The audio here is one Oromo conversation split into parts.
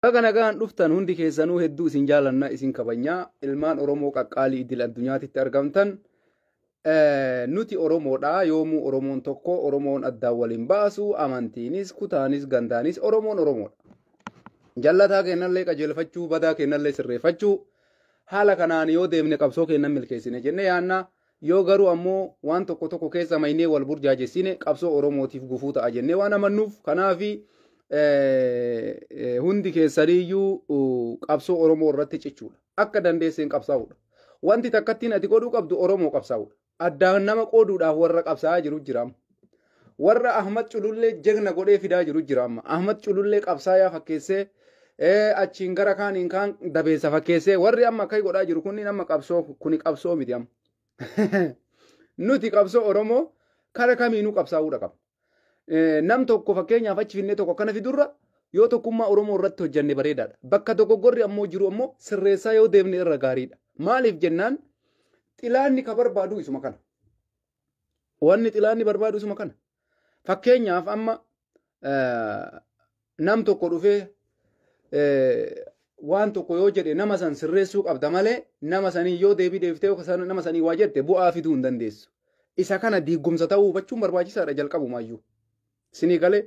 Baga nagaan dhuftan hundi keessanuu hedduu isin jaalanna isin kabanya ilmaan Oromoo qaqqaalii idil addunyaatitti argamtan Eh, nuti Oromoodha yoomuu Oromoon tokko Oromoon addaan waliin baasu amantiinis kutaanis gandaanis Oromoon Oromoodha. Jallataa kennallee qajeelfachuu badaa kennallee sirreeffachuu haala kanaan yoo deemne qabsoo kennan milkeessine jennee yaanna Yoo garuu ammoo waan tokko tokko keessa maynee wal burjaajessine qabsoo Oromootiif gufuu ta'a jennee waan amannuuf kanaafi hundi keessaniyyuu qabsoo Oromoo irratti cichuudha. Akka dandeesseen qabsaa'uudha. Wanti takkattiin ati godhuu qabdu Oromoo qabsaa'uudha. Addaan nama qooduudhaaf warra qabsaa'aa jiru jiraam. Warra Ahmad Culullee jegna godhee fidaa jiru jira amma. Ahmad Culullee qabsaayaa fakkeessee eh, achiin gara kaaniin kaan dabeessa fakkeessee warri amma akkai godhaa jiru kunniin amma qabsoo kuni qabsoo miti amma. Nuti qabsoo Oromoo kara kamiinuu qabsaa'uudha qabna. Eh, Nam tokko fakkeenyaaf achi finnee tokko akkana fidurra yoo tokkummaa Oromoo irratti hojjanne bareedaadha. Bakka dogoggorri ammoo jiru ammoo sirreessaa yoo deemne irra gaariidha. Maaliif jennaan xilaanni ka barbaadu isuma kana. Wanni xilaanni barbaadu isuma kana. Fakkeenyaaf amma nam tokko dhufee waan tokko yoo jedhe nama san sirreessuu qabda malee nama sanii yoo deebii deeftee yookaan nama sanii waa jette bu'aa fiduu hin dandeessu. Isa kana diigumsa ta'uu hubachuun barbaachisaadha jalqabumaayyuu. Sinii galee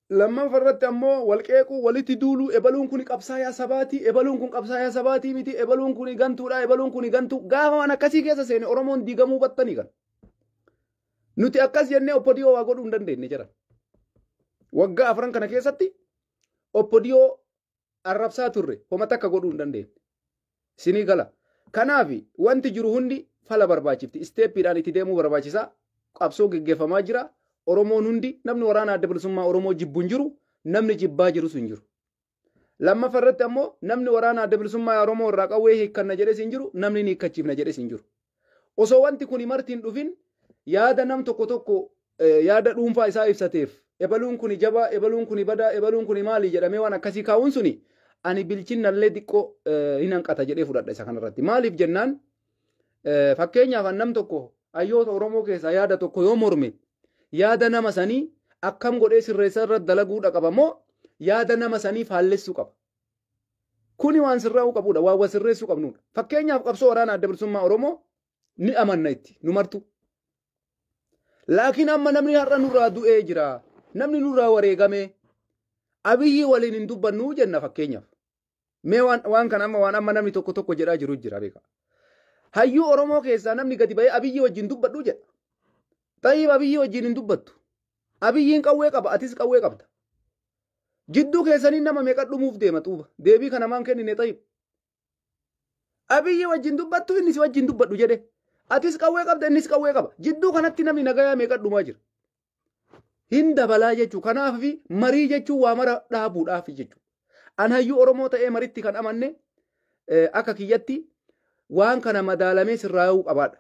Lammanfa irratti ammoo wal qeequu, walitti duuluu, ebaluun kuni qabsaayaa sabaati, ebaluun kun qabsaayaa sabaatii miti, ebaluun kuni gantuudha, ebaluun kuni gantuu. Gaafa waan akkasii keessa seene Oromoon diigamuu battanii kan. Nuti akkas jennee Oppodiyoo waa godhuu hin dandeenye jedhan. Waggaa afran kana keessatti Oppodiyoo arrabsaa turre homa takka godhuu hin dandeenye. Isinii gala. Kanaaf wanti jiru hundi fala barbaachifti. Isteeppiidhaan itti deemuu barbaachisaa. Qabsoo geggeeffamaa jira. Oromoon hundi namni waraana adda bilisummaa Oromoo jibbu hin jiru. Namni jibbaa jirus hin jiru. Lammaffaa irratti ammoo namni waraana adda bilisummaa Oromoo irraa qawwee hiikkanna jedhes hin jiru. Namni ni hiikkachiifna jedhes hin jiru. Osoo wanti kuni marti hin dhufin yaada nam tokko tokko eh, yaada dhuunfaa isaa ibsateef ebaluun kuni jabaa, ebaluun kuni badaa, ebaluun kuni maali jedhamee waan akkasii kaa'uun suni ani bilchinnallee xiqqoo eh, hin hanqata jedhee fudhadha isa kanarratti. Maaliif jennaan eh, fakkeenyaaf an nam tokko hayyoota Oromoo keessaa yaada tokko yoo morme yaada nama sanii akkam godhee sirreessaa irratti dalaguudha qaba moo yaada nama sanii faallessuu qaba. Kuni waan sirraa'uu qabudha. Waan wal sirreessuu qabnudha. Fakkeenyaaf qabsoo waraana adda bilisummaa Oromoo ni amanna itti nu martu. Laakiin amma namni har'a nurraa du'ee jira. Namni nurraa wareegamee abiyyi waliin hin dubbannu jenna fakkeenyaaf. Mee waan, waan kana amma waan amma namni tokko tokko jedhaa jiru jira beeka. Hayyuu Oromoo keessaa namni gadi ba'ee abiyyi wajjin dubbadhu jedha. Xayyib abiyyi wajjin hin dubbattu. Abiyyiin qawwee qaba atis qawwee qabda. Jidduu keessanii nama meeqa dhumuuf deema xuuba? Deebii kana maan kennine xayib? Abiyyi wajjin dubbattu inni si wajjin dubbadhu jedhe. Atis qawwee qabda innis qawwee qaba. Jidduu kanatti namni nagayaa meeqa dhumaa jira? Hin dabalaa jechuu kanaaf fi marii jechuun waa mara dhaabuudhaaf jechuu. An hayyuu Oromoo ta'ee maritti kan amanne eh, akka kiyyatti waan kana madaalamee sirraa'uu qabaadha.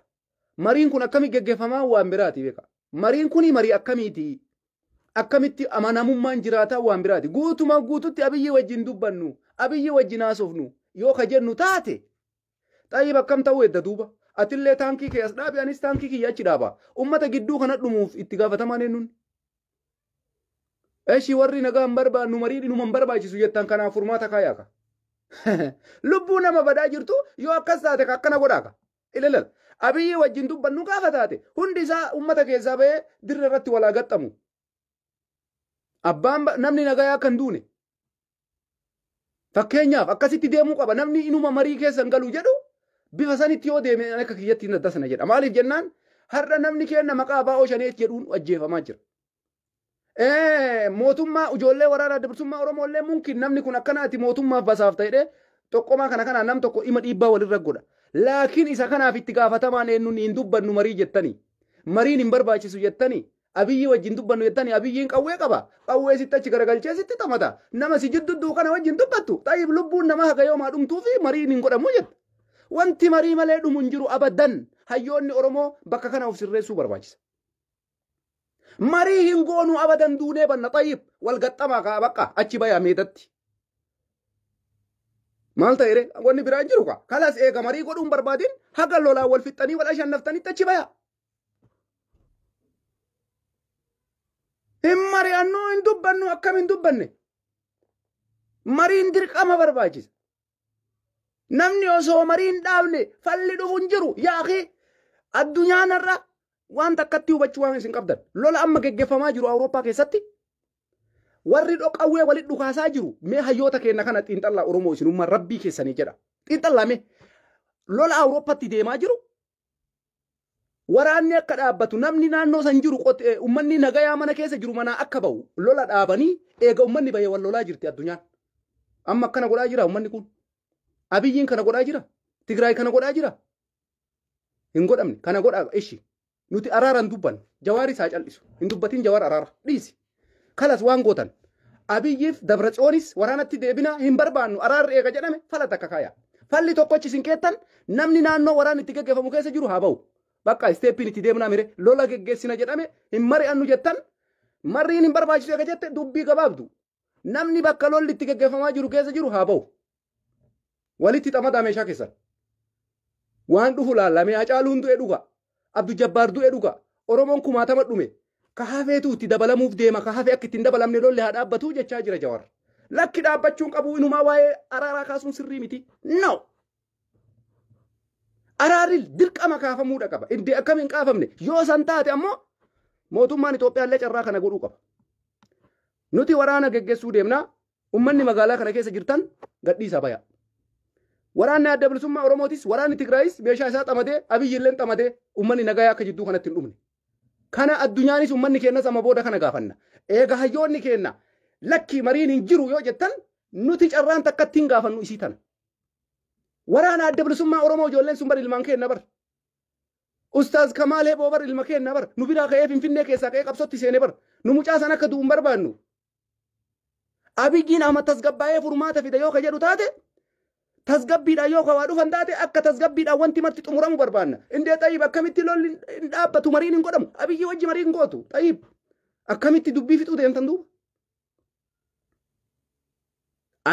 Mariin kun akkamitti geggeeffamaa waan biraati beekaa. Mariin kuni marii akkamiiti? Akkamitti amanamummaan jiraataa waan biraati. Guutuma guututti abiyyii wajjin dubbannu, abiyyii wajjin haasofnu yoo ka jennu taate xayyib akkam ta'uu edda duuba. Atillee taankii kee as dhaabi anis taankii kiyya achi dhaaba. Ummata gidduu kana dhumuuf itti gaafatamaan eenyuun? Eshi warri nagaa hin barbaannu marii dhinuma hin barbaachisu jettan kanaaf furmaata kaayaaka. Lubbuu nama badaa jirtu yoo akkas taate ka akkana godhaaka. Ilalal. Abiyyi wajjin dubbannu gaafa taate hundi isaa ummata keessaa bahee dirree irratti walaa gaxxamu. Abbaan namni nagayaa akka hin duune. Fakkeenyaaf akkasitti deemuu qaba namni inuma marii keessa hin galu jedhu bifa sanitti yoo deeme akka kiyyatti hin addasana jedha. Maaliif jennaan har'a namni keenna maqaa abbaa Oshaneet jedhuun ajjeefamaa jira. Eh, mootummaa ijoollee waraanaa adda bilisummaa Oromoo illee mumkin namni kun akkanaati mootummaaf basaaf ta'edhe tokkomaa kana kanaa nam tokko ima dhiibbaa walirra godha. Laakiin isa kanaaf itti gaafatamaan eenyuun hin dubbannu marii jettanii. Mariin hin barbaachisu jettanii. Abiyyi wajjin dubbannu jettanii abiyyiin qawwee qaba. Qawwee sitti achi garagalchee sitti taphata. Nama si jiddu du'u kana wajjin dubbattu. Xayyib lubbuun nama haga yoomaa dhumtuu fi mariin hin godhamu jetta. Wanti marii malee dhumu hin jiru abadan. Hayyoonni Oromoo bakka kana of sirreessuu barbaachisa. Marii hin goonuu abadan duunee banna xayyib wal gaxxamaa kaa bakka achi bayaa meedatti. Maal ta'ere wanni biraa hin jiru kaa kalas eega marii godhuun barbaadin haga lolaa wal fixxanii wal ashannaftanitti achi bayaa. Hin mari'annuu hin dubbannu akkam hin dubbanne. Mariin dirqama barbaachisa. Namni osoo marii hin dhaabne falli dhufu hin jiru. Yaaqi addunyaa narra waan takkatti hubachuu waan isin qabdan. Lola amma geggeeffamaa jiru Awurooppaa keessatti warri dhoqawwee walitti dhukaasaa jiru mee hayyoota keenya kana xiinxallaa Oromoo isinummaa rabbii keessanii jedha. Xiinxallaa mee lola Awurooppatti deemaa jiru Waraanni akka dhaabbatu namni naannoo san jiru ummanni nagayaa mana keessa jiru manaa akka ba'u lola dhaabanii eega ummanni bahee wal lolaa jirti addunyaan. Amma akkana godhaa jira ummanni kun. Abiyyiin kana godhaa jira. Tigraay kana godhaa jira. Hin godhamne kana godhaa ishi. Nuti araaran dubbanne. Jawaari isaa cal'isu. Hin dubbatin jawaar araara. Dhiisi. Kalas waan gootan. Abiyyiif Dabratsiyoonis waraanatti deebinaa hin barbaannu araarri eega jedhame fala takka kaaya. Falli tokkochi isin keettan namni naannoo waraanni itti geggeeffamu keessa jiru haa ba'u. Bakka isteeppiin itti deemnaa mire lola geggeessina jedhame hin mari'annu jettan marriin hin barbaachisu eega jette dubbii gabaabdu. Namni bakka lolli itti geggeeffamaa jiru keessa jiru haa ba'u. Walitti xamadaa meeshaa keessan. Waan dhufu laalla mee Hacaaluun du'e dhuga. Abdu Jabbaar du'e dhuga. Oromoon kumaatama dhume. Ka hafeetu itti dabalamuuf deema. Ka hafe akka itti hin dabalamne lolli haa dhaabbatu jechaa jira Jawar. Lakki dhaabbachuun qabu inumaa waa'ee araaraa kaasuun sirrii miti. No! Araarri dirqama kaafamuudha qaba. Iddee akkam hin kaafamne. Yoo san taate ammoo mootummaan Itoophiyaallee carraa kana godhuu qaba. Nuti waraana geggeessuu deemna. Ummanni magaalaa kana keessa jirtan gadhiisaa bayaa. Waraanni adda bilisummaa Oromootis waraanni Tigraayis meeshaa isaa xamadee Abiyyi illeen xamadee ummanni nagayaa akka jidduu kanatti hin dhumne. Kana addunyaanis ummanni keenyas amma booda kana gaafanna. Eega hayyoonni keenya lakkii mariin hin jiru yoo jettan nuti carraan takkatti hin gaafannu isii tana. Waraana adda bilisummaa Oromoo ijoolleen sun bar ilmaan keenya bar. Ustaaz Kamaal Heboo bar ilma keenya bar. Nu biraa ka'ee Finfinnee keessaa ka'ee qabsootti seene bar. Nu mucaa san akka du'u hin barbaannu. Abiyyiin Ahmad tasgabbaa'ee furmaata fida yoo ka jedhu taate tasgabbiidhaan yoo ka waa dhufan taate akka tasgabbiidhaan wanti marti xumuramu barbaanna. Indee Xayiib akkamitti lolli hin dhaabbatu mariin hin godhamu. Abiyyii wajji marii hin gootu. Xayiib akkamitti dubbii fixuu deemtan duuba.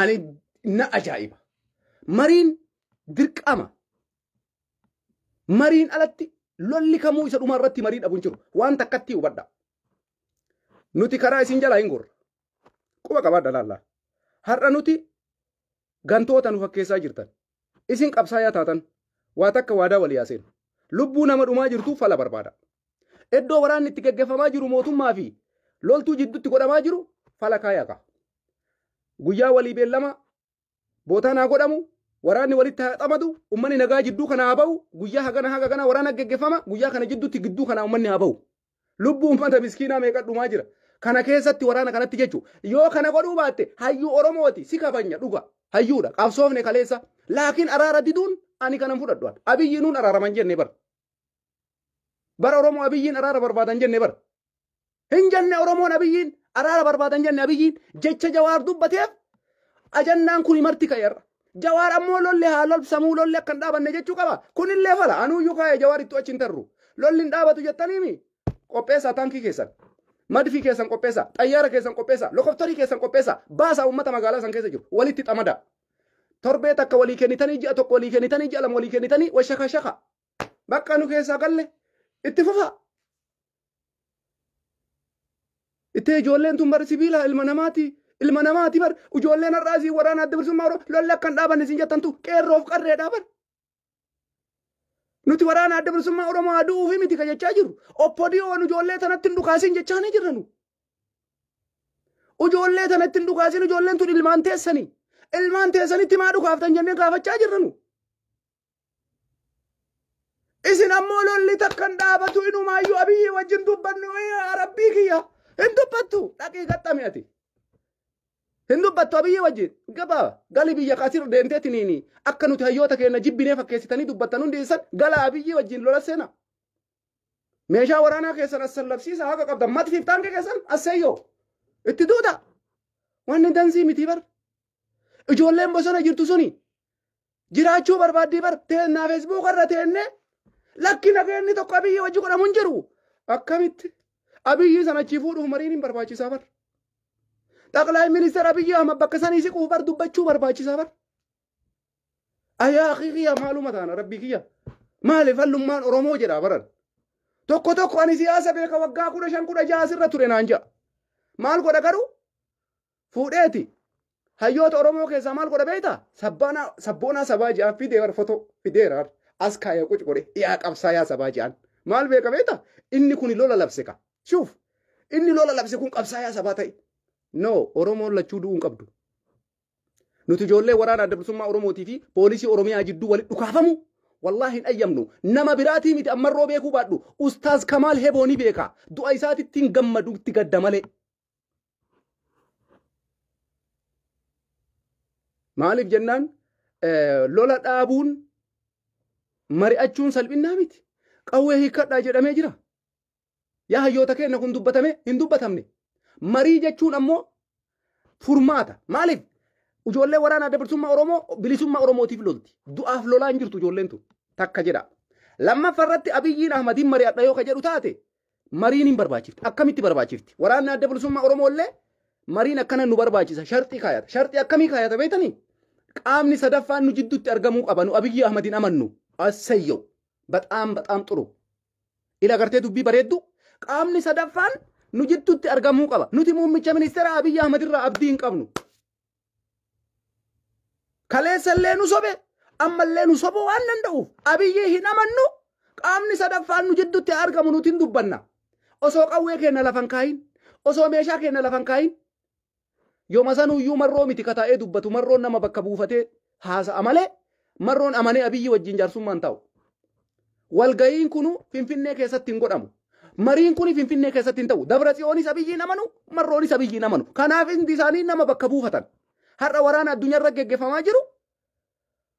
Ani na ajaa'iba. Mariin dirqama. Mariin alatti lolli kamuu isa dhumaa irratti marii dhabu hin jiru. Waan takkatti hubadha. Nuti karaa isin jalaa hin gorra. Quba qabaadha laallaa. Har'a nuti gantoota nu fakkeessaa jirtan. Isin qabsaayaa taatan waa takka waadaa walii haa seenu. Lubbuu nama dhumaa jirtuu fala barbaada. Iddoo waraanni itti gaggeeffamaa jiru mootummaa fi loltuu jidduutti godhamaa jiru fala kaayaa ka'a. Guyyaa walii beellama bootaan haa godhamu waraanni walitti haa xamadu ummanni nagaa jidduu kana haa ba'u guyyaa hagana haga kana waraana geggeffama guyyaa kana jidduutti gidduu kana ummanni haa ba'u lubbuu ummata miskiinaa meeqa dhumaa jira kana keessatti waraana kanatti jechu yoo kana godhuu baatte hayyuu oromooti si kabanya dhuga hayyuudha qabsoofne kaleessa laakiin araara diduun ani kanan fudhadhu abiyyiinuun araaraman jenne bara bara oromoo abiyyiin araara barbaadan jenne bara Hin jenne Oromoon Abiyyiin araara barbaadan jenne Abiyyiin jecha Jawaar dubbateef ajannaan kuni marti ka'eerra. Jawaar ammoo lolli haa lolbsamuu lolli akka hin dhaabanne jechuu qaba. Kunillee fala anuuyyuu kaa'e Jawaar ittuu achi hin tarru. Lolli hin dhaabatu jettaniimi qopheessaa taankii keessan. Madfii keessan qopheessaa, xayyaara keessan qopheessaa, lokoftarii keessan qopheessaa, baasaa uummata magaalaa san keessa jiru walitti xamadaa. Torbee takka walii kennitanii ji'a tokko walii kennitanii ji'a lama walii kennitanii washakashaka. Bakka nu keessaa galle itti fufaa. Ittee ijoolleen tun bar sibiila ilma namaati. Ilma namaati bar ijoolleen har'aa isin waraana adda bilisummaa Oromoo lolli akka hin dhaabanne isin jettantu qeerroof qarreedha bar. Nuti waraana adda bilisummaa Oromoo haa du'uufi miti ka jechaa jirru. Oppodiyoon ijoollee tanatti hin dhukaasin jechaa ni jirra nu. Ijoollee tanatti hin dhukaasin ijoolleen tun ilmaan teessanii. Ilmaan teessanitti maa dhukaaftan jennee gaafachaa jirra nu. Isin ammoo lolli takka hin dhaabatu inumaayyuu abiyyii wajjin dubbannu yaa rabbii kiyya hin dubbattu dhaqii gaxxami ati. Hin dubbattu abiyyii wajjin gaba gali biyya kaasir deemtee tiniini akka nuti hayyoota keenya jibbinee fakkeessitanii dubbattan hundi isan gala abiyyii wajjin lola seena. Meeshaa waraanaa keessan as sallabsiisa haqa qabdan matfiif taankee keessan as seeyyoo itti duuta. Wanni danzii miti bar Ijoolleen bosona jirtu suni jiraachuu barbaaddii bar teennaa feesbuuka irra teennee lakki nageenni tokko abiyyi wajji godhamu hin jiru. Akkamitti abiyyi sana achii fuudhuuf mariin hin barbaachisaa bar. Xaqlaay ministeer abiyyi amma bakka sanii siquuf bar dubbachuu barbaachisaa bar. Ayaa kiyya maaluma taana rabbii kiyya. Maaliif hallummaan Oromoo jedhaa baran. Tokko tokko ani siyaasa beeka waggaa kudha shan kudha ja'a asirra ture naan ja'a. Maal godha garuu fuudheeti hayyoota Oromoo keessaa maal godha beekta? Sabbaanaa sabboonaa sabaa ja'aan fideera fotoo fideera as kaaya quc godhe yaa qabsaayaa sabaa ja'aan maal beeka beekta? Inni kuni lola labse ka. Shuuf inni lola labse kun qabsaayaa sabaa ta'e. No Oromoon lachuu du'uu hin qabdu. Nuti ijoollee waraana adda bilisummaa Oromootii fi poolisii Oromiyaa jidduu walitti dhukaafamu wallaahi hin ayyamnu. Nama biraatii miti ammarroo beekuu baadhu. Ustaaz Kamaal Heboo ni beeka. Du'a isaatitti hin gammadu itti gadda malee. Maaliif jennaan lola dhaabuun mari'achuun salphinnaa miti. Qawwee hiikkadhaa jedhamee jira. Yaa hayyoota keenya kun dubbatame hin dubbatamne. Marii jechuun ammoo furmaata. Maaliif? Ijoollee waraana adda bilisummaa Oromoo bilisummaa Oromootiif lolti. Du'aaf lolaa hin jirtu ijoolleen tun. Takka jedha. Lammaffaa irratti Abiyyiin Ahmadiin mari'adha yoo ka jedhu taate mariin hin barbaachifti. Akkamitti barbaachifti? Waraanni adda bilisummaa Oromoo illee mariin akkana nu barbaachisa. Sharxii kaayata. Sharxii akkamii kaayata beektanii? Qaamni sadaffaan nu jidduutti argamuu qaba. Nu Abiyyi Ahmadiin amannu. Assayyoo. Baxaam baxaam xuru. Ila gartee dubbii bareeddu. Qaamni sadaffaan nu jidduutti argamuu qaba. Nuti muummicha ministeera Abiyyi Ahmad irraa abdii hin qabnu. Kaleessa illee nu sobe amma illee nu sobuu waan danda'uuf abiyyii hin amannu qaamni sadaffaan nu jidduutti argamu nuti hin dubbanna. Osoo qawwee keenya lafan kaayin osoo meeshaa keenya lafan kaayin yooma sanuyyuu marroo miti kataa'ee dubbatu marroon nama bakka buufatee haasa'a malee marroon amanee abiyyi wajjin jaarsummaa hin taa'u. Walga'iin kunu Finfinnee keessatti hin godhamu. Mariin kuni Finfinnee keessatti hin ta'u. Dabra Tsiyoonis abiyyi hin amanu, marroonis abiyyi hin amanu. Kanaaf hundi isaanii nama bakka buufatan. Har'a waraana addunyaarra geggeeffamaa jiru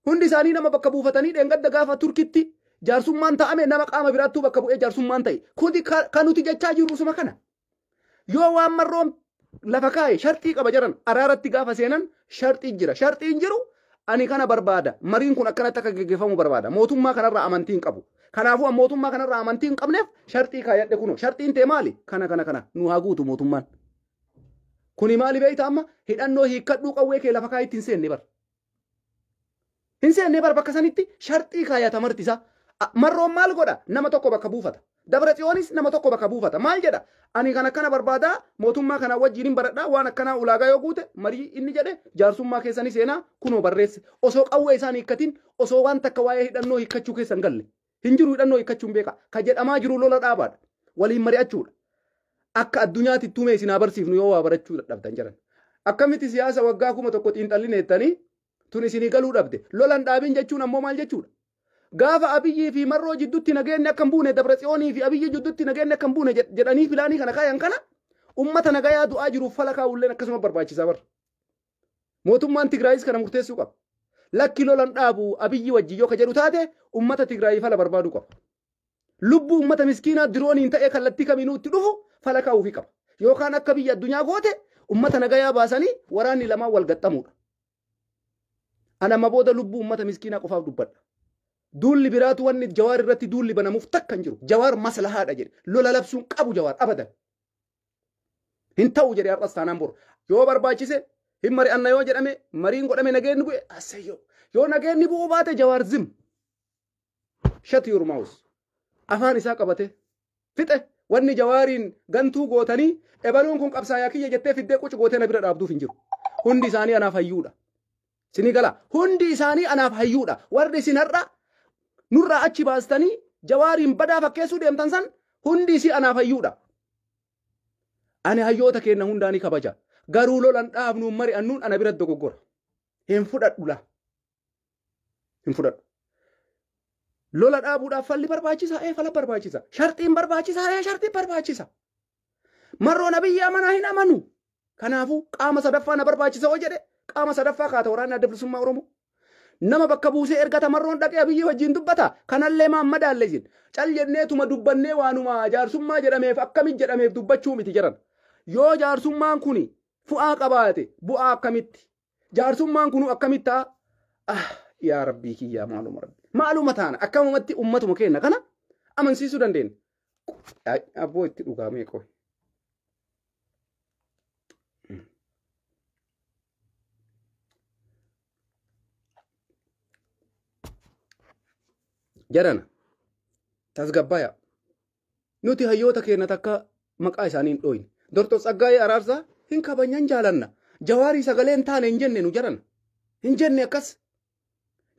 hundi isaanii nama bakka buufatanii dheengadda gaafa Turkitti jaarsummaan taa'ame nama qaama biraattuu bakka bu'ee jaarsummaan ta'e. Kuni ka- kan nuti jechaa jirru suma kana. Yoo waan marroon lafa kaa'e sharxii qaba jedhan araaratti gaafa seenan sharxiin jira. Sharxiin jiru ani kana barbaada. Mariin kun akkanatti akka geggeeffamu barbaada. Mootummaa kanarraa amantii hin qabu. Kanaafuu an mootummaa kanarraa amantii hin qabneef sharxii kaayadhe kunoo. Sharxiin tee maali? Kana kana kana nu haa guutu mootummaan. Kuni maali beekta amma hidhannoo hiikkadhuu qawwee kee lafa kaa'itti hin seenne bar. Hin seennee bar bakka sanitti sharxii kaayata marti isaa. A- Marroon maal godha? Nama tokko bakka buufata. Dabra Tsiyoonis nama tokko bakka buufata. Maal jedha? Ani kan akkana barbaadaa mootummaa kanaa wajjin hin baradhaa waan akkanaa ulaagaa yoo guute marii inni jedhe jaarsummaa keessa ni seenaa kunoo barreesse. Osoo qawwee isaan hiikkatiin osoo waan takka waa'ee hidhannoo hiikkachuu keessa hin galle. Hin jiru hidhannoo hiikkachuun beekaa. Ka jedhamaa jiru lola dhaabaadha. Waliin mari'achuudha. Akka addunyaatti ittuumee isin haa barsiifnu yoo waa barachuu dadhabdan jedhan. Akkamitti siyaasa waggaa kuma tokko xiinxallina jettanii tun isinii galuu dhabde. Lolan dhaabin jechuun ammoo maal jechuudha? Gaafa Abiyyii fi Marroo jiddutti nageenni akka hin buune Dabra Tsiyoonii fi Abiyyii jiddutti nageenni akka hin buune jed- jedhanii filaanii kana kaayan kana ummata nagayaa du'aa jiruuf fala kaa'ulleen akkasuma barbaachisaa barra. Mootummaan Tigraayis kana murteessuu qaba. Lakki lolan dhaabu abiyyi wajjin yoo ka jedhu taate ummata Tigraayii fala barbaaduu qaba. Lubbuu ummata miskiinaa dirooniin ta'ee kallattii kamiinuu itti dhufu fala kaa'uufi qaba. Yookaan akka biyya addunyaa goote ummata nagayaa baasanii waraanni lamaan wal gaxxamuudha. Ana amma booda lubbuu ummata miskiinaa qofaaf dubbadha. Duulli biraatu wanni jawaar irratti duulli banamuuf takka hin jiru. Jawaar maslahaadha jedhe. Lola labsuun qabu jawaar abadan. Hin ta'u jedhe har'as taanaan bor. Yoo barbaachise hin mari'anna yoo jedhame mariin godhame nageenni bu'e asseyyoo. Yoo nageenni bu'uu baate jawaar zim. Shut your mouth. Afaan isaa qabate. Fixe wanni jawaariin gantuu gootanii ebaluun kun qabsaayaa kiyya jettee fiddee qucu gootee na bira dhaabduuf hin jiru. Hundi isaanii anaaf hayyuudha. Isinii gala. Hundi isaanii anaaf hayyuudha. Warri isin har'a nurraa achi baastanii jawaariin badaa fakkeessuu deemtan san hundi isii anaaf hayyuudha. Ani hayyoota keenna hundaa ni kabaja. Garuu lolan dhaabnuun mari'annuun ana bira dogoggora. Hin fudhadhu laa. Hin fudhadhu. Lola dhaabuudhaaf falli barbaachisaa ee fala barbaachisa. Sharxiin barbaachisaa ee sharxii barbaachisa. Marroon abiyyi amanaa hin amanu. Kanaafuu qaama sadaffaa na barbaachisa hoo jedhe qaama sadaffaa kaata waraanni adda bilisummaa Oromoo. Nama bakka buusee ergata marroon dhaqee abiyyi wajjin dubbata kanallee maan madaalle isin. Cal jennee tuma dubbannee waanuma jaarsummaa jedhameef akkamit jedhameef dubbachuu miti jaran. Yoo jaarsummaan kuni fu'aa qabaate bu'aa akkamitti Jaarsummaan kunuu akkamitti ta'a? Ah, yaa rabbii kiyyaa maaluma rabbi. Maaluma taana akkamumatti ummatuma keenya kana amansiisuu dandeenya. Ay, Abboo itti dhugaamee qoy. Jarana tasgabbaaya. Nuti hayyoota keenya takka maqaa isaanii hin dhooyne. Doktor Tsaggaayee Araarsaa hin kabajna hin jaalanna. Jawaarii sagalee hin taane hin jenne nu jaran. Hin jenne akkas.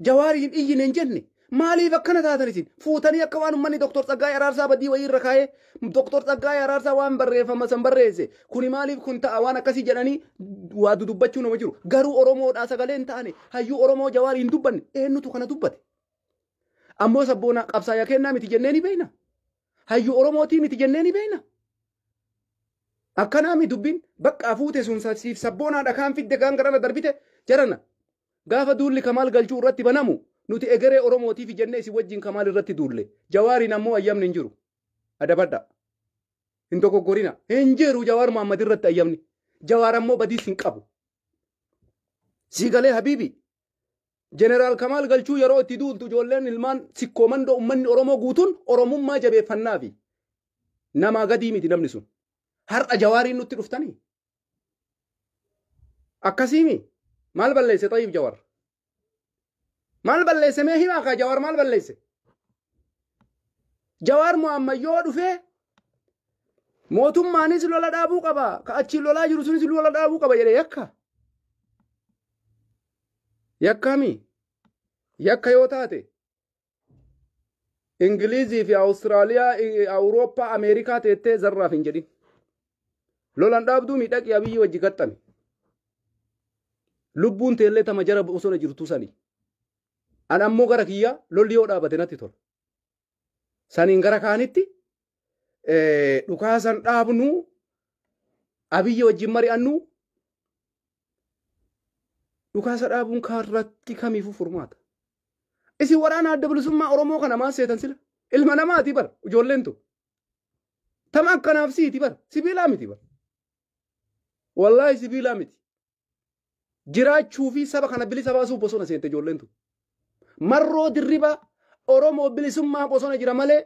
Jawaarii hin iyyine hin jenne. Maaliif akkana taatan isin? Fuutanii akka waan uummanni Doktor Tsaggaayee Araarsaa badii wayii irra kaa'ee Doktor Tsaggaayee Araarsaa waan barreeffama san barreesse kuni maaliif kun ta'a waan akkasii jedhanii waa dudubbachuu nama jiru. Garuu Oromoodhaa sagalee hin taane hayyuu Oromoo Jawaarii hin dubbanne eenyutu kana dubbate? Ammoo sabboonaa qabsaaya kennaa miti jennee ni beeyna. Hayyu Oromootii miti jennee ni beeyna. Akkanaami dubbiin baqqaa fuute sun sa- siif sabboonaa dhakaan fidde kaan garana darbite jarana. Gaafa duulli kamaal galchuu irratti banamu nuti egeree Oromootiif jennee isin wajjin kamaal irratti duulle. Jawaariin ammoo ayyamni hin jiru. Adabadha. Hin dogoggorina. Hin jiru Jawaar Mohaammed irratti ayyamni. Jawaar ammoo badiis hin qabu. Sii galee habiibi. Jeneraal Kamaal Galchuu yeroo itti duultu ijoolleen ilmaan sikkoo mandoo ummanni Oromoo guutuun Oromummaa jabeeffannaafi. Namaa gadii miti namni sun. Har'a Jawaariin nutti dhuftanii? Akkasiimi? Maal balleesse Xayiib Jawar? Maal balleesse mee himaa kaa Jawar maal balleesse? Jawaar Mohaammed yoo dhufee Mootummaanis lola dhaabuu qaba. Ka achiin lolaa jiru sunis lola dhaabuu qaba jedhe yakka. Yakkaami. Yakka yoo taate. Ingilizii fi Awustiraaliyaa, Awurooppaa, Ameerikaa teettee zarraaf hin jedhin. Lolan dhaabduu miidhaqii abiyyi wajji gaxxame. Lubbuun teellee tama jara bosona jirtu sani. An ammoo gara kiyyaa lolli yoo dhaabate natti tola. Saniin gara kaanitti dhukaasan dhaabnu abiyyi wajjin mari'annu dhukaasa dhaabuun kaarratti kamiifuu furmaata. Isin waraana adda bilisummaa Oromoo kana maal seetan sila? Ilma namaati bar ijoolleen tun. Tama akkanaaf siiti bar sibiilaa miti bar. Wallaahi sibiilaa miti. jiraachuu fi saba kana bilisa baasuuf bosona seente ijoolleen tun. Marroo dirribaa Oromoo bilisummaa bosona jira malee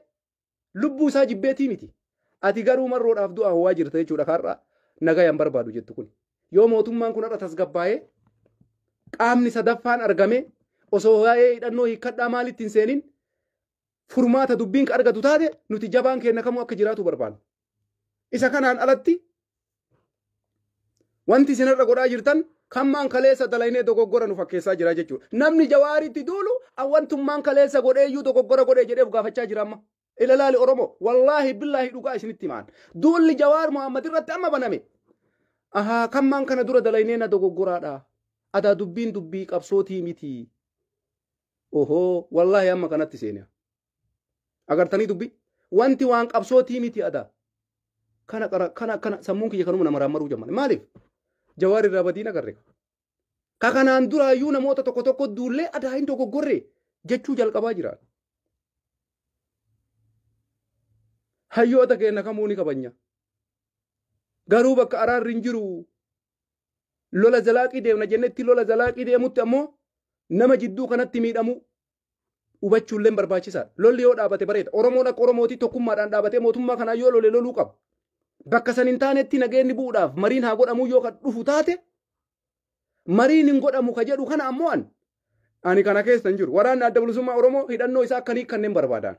lubbuu isaa jibbeetii miti. Ati garuu marroodhaaf du'a hawaa jirta jechuudha har'a nagaya hin barbaadu jettu kun. Yoo mootummaan kun har'a tasgabbaa'ee qaamni sadaffaan argamee osoo waa'ee hidhannoo hiikkadhaa maalitti hin seenin furmaata dubbiin ka argatu taate nuti jabaan keenna kamuu akka jiraatu barbaanna. Isa kanaan alatti wanti isin irra godhaa jirtan kammaan kaleessa dalaynee dogoggora nu fakkeessaa jira jechuudha. Namni jawaaritti duulu awwantummaan kaleessa godheeyyuu dogoggora godhee jedhee of gaafachaa jira amma. Ilalaali Oromoo wallaahi billaahi dhugaa isinitti himaan. Duulli jawaar Muhammad irratti amma baname. Ahaa kammaan kana dura dalaynee na dogoggoraadha. Adaa dubbiin dubbii qabsootii miti. ohoo wallaahi amma kanatti seene agartanii dubbi wanti waan qabsootii miti ada kana qara kana kana sammuun kiyya kanuma nama raammaruu jamman maaliif jawaar irraa badiin agarre ka kanaan duraayyuu namoota tokko tokko duullee adaa hin dogoggorre jechuu jalqabaa jira hayyoota keenya kamuu ni kabanya garuu bakka araarri hin jiru lola zalaaqii deemna jennetti lola zalaaqii deemutti ammoo nama jidduu kanatti miidhamu hubachuulleen barbaachisaadha. Lolli yoo dhaabate bareeda. Oromoon akka Oromootii tokkummaadhaan dhaabatee mootummaa kanaa yoo lole loluu qaba. Bakka san hin taanetti nageenyi bu'uudhaaf mariin haa godhamuu yoo kan dhufu taate mariin hin godhamu ka jedhu kana ammoo an ani kana keessa hin jiru. Waraanni adda bilisummaa Oromoo hidhannoo isaa akka hin hiikkanneen barbaadaan.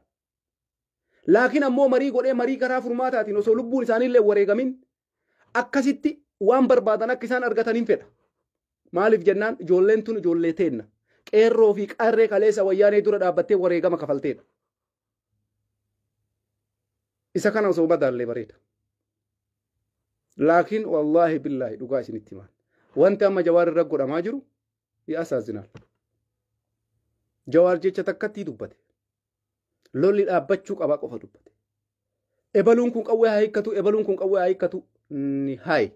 Laakiin ammoo marii godhee marii karaa furmaataatiin osoo lubbuun isaanii illee wareegamin akkasitti waan barbaadan akka isaan argatan hin fedha. Maaliif jennaan ijoolleen tun ijoollee teenna. Qeerroo fi qarree kaleessa wayyaanee dura dhaabbattee wareegama kafalteedha. Isa kana osoo madaallee bareeda. Laakiin wallaahi billaahi dhugaa isinitti himaan. Wanti amma jawaar irra godhamaa jiru yaasaazinaal. Jawaar jecha takkatti dubbate. Lolli dhaabbachuu qabaa qofa dubbate. Ebaluun kun qawwee haa hiikkatu, ebaluun kun qawwee haa hiikkatu ni haayi.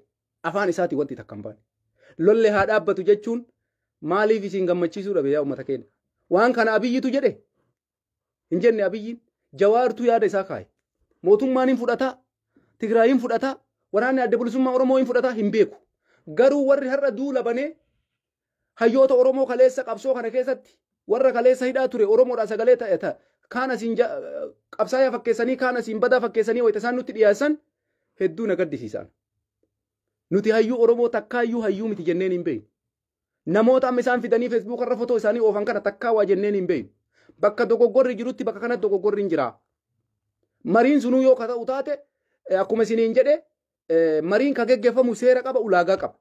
Afaan isaatii wanti takka hin baane. Lolli haa dhaabbatu jechuun maaliif isin gammachiisuu dhabe yaa uummata keenya? Waan kana abiyyitu jedhe hin jenne abiyyiin jawaartuu yaada isaa kaaye. Mootummaan hin fudhataa, Tigraay hin fudhataa, waraanni adda bilisummaa Oromoo hin fudhataa hin beeku. Garuu warri har'a duula banee Hayyoota Oromoo kaleessa qabsoo kana keessatti warra kaleessa hidhaa ture Oromoodhaa sagalee ta'e ta kaan asiin ja- qabsaayaa fakkeessanii kaan asiin badaa fakkeessanii wayita isaan nutti dhiyeessan hedduu na gaddisiisaan. Nuti hayyuu Oromoo takkaayyuu hayyuu miti jenneen hin beeknu. Namoota amma isaan fidanii Feesbuuk irra fotoo isaanii oofan kana takkaa waa jenneen hin beeknu. Bakka dogoggorri jirutti bakka kanatti dogoggorri hin jiraa. Mariin sunuu yoo ka ta'u taate eh, akkuma isiniin jedhe eh, mariin ka geggeeffamu seera qaba ulaagaa qaba.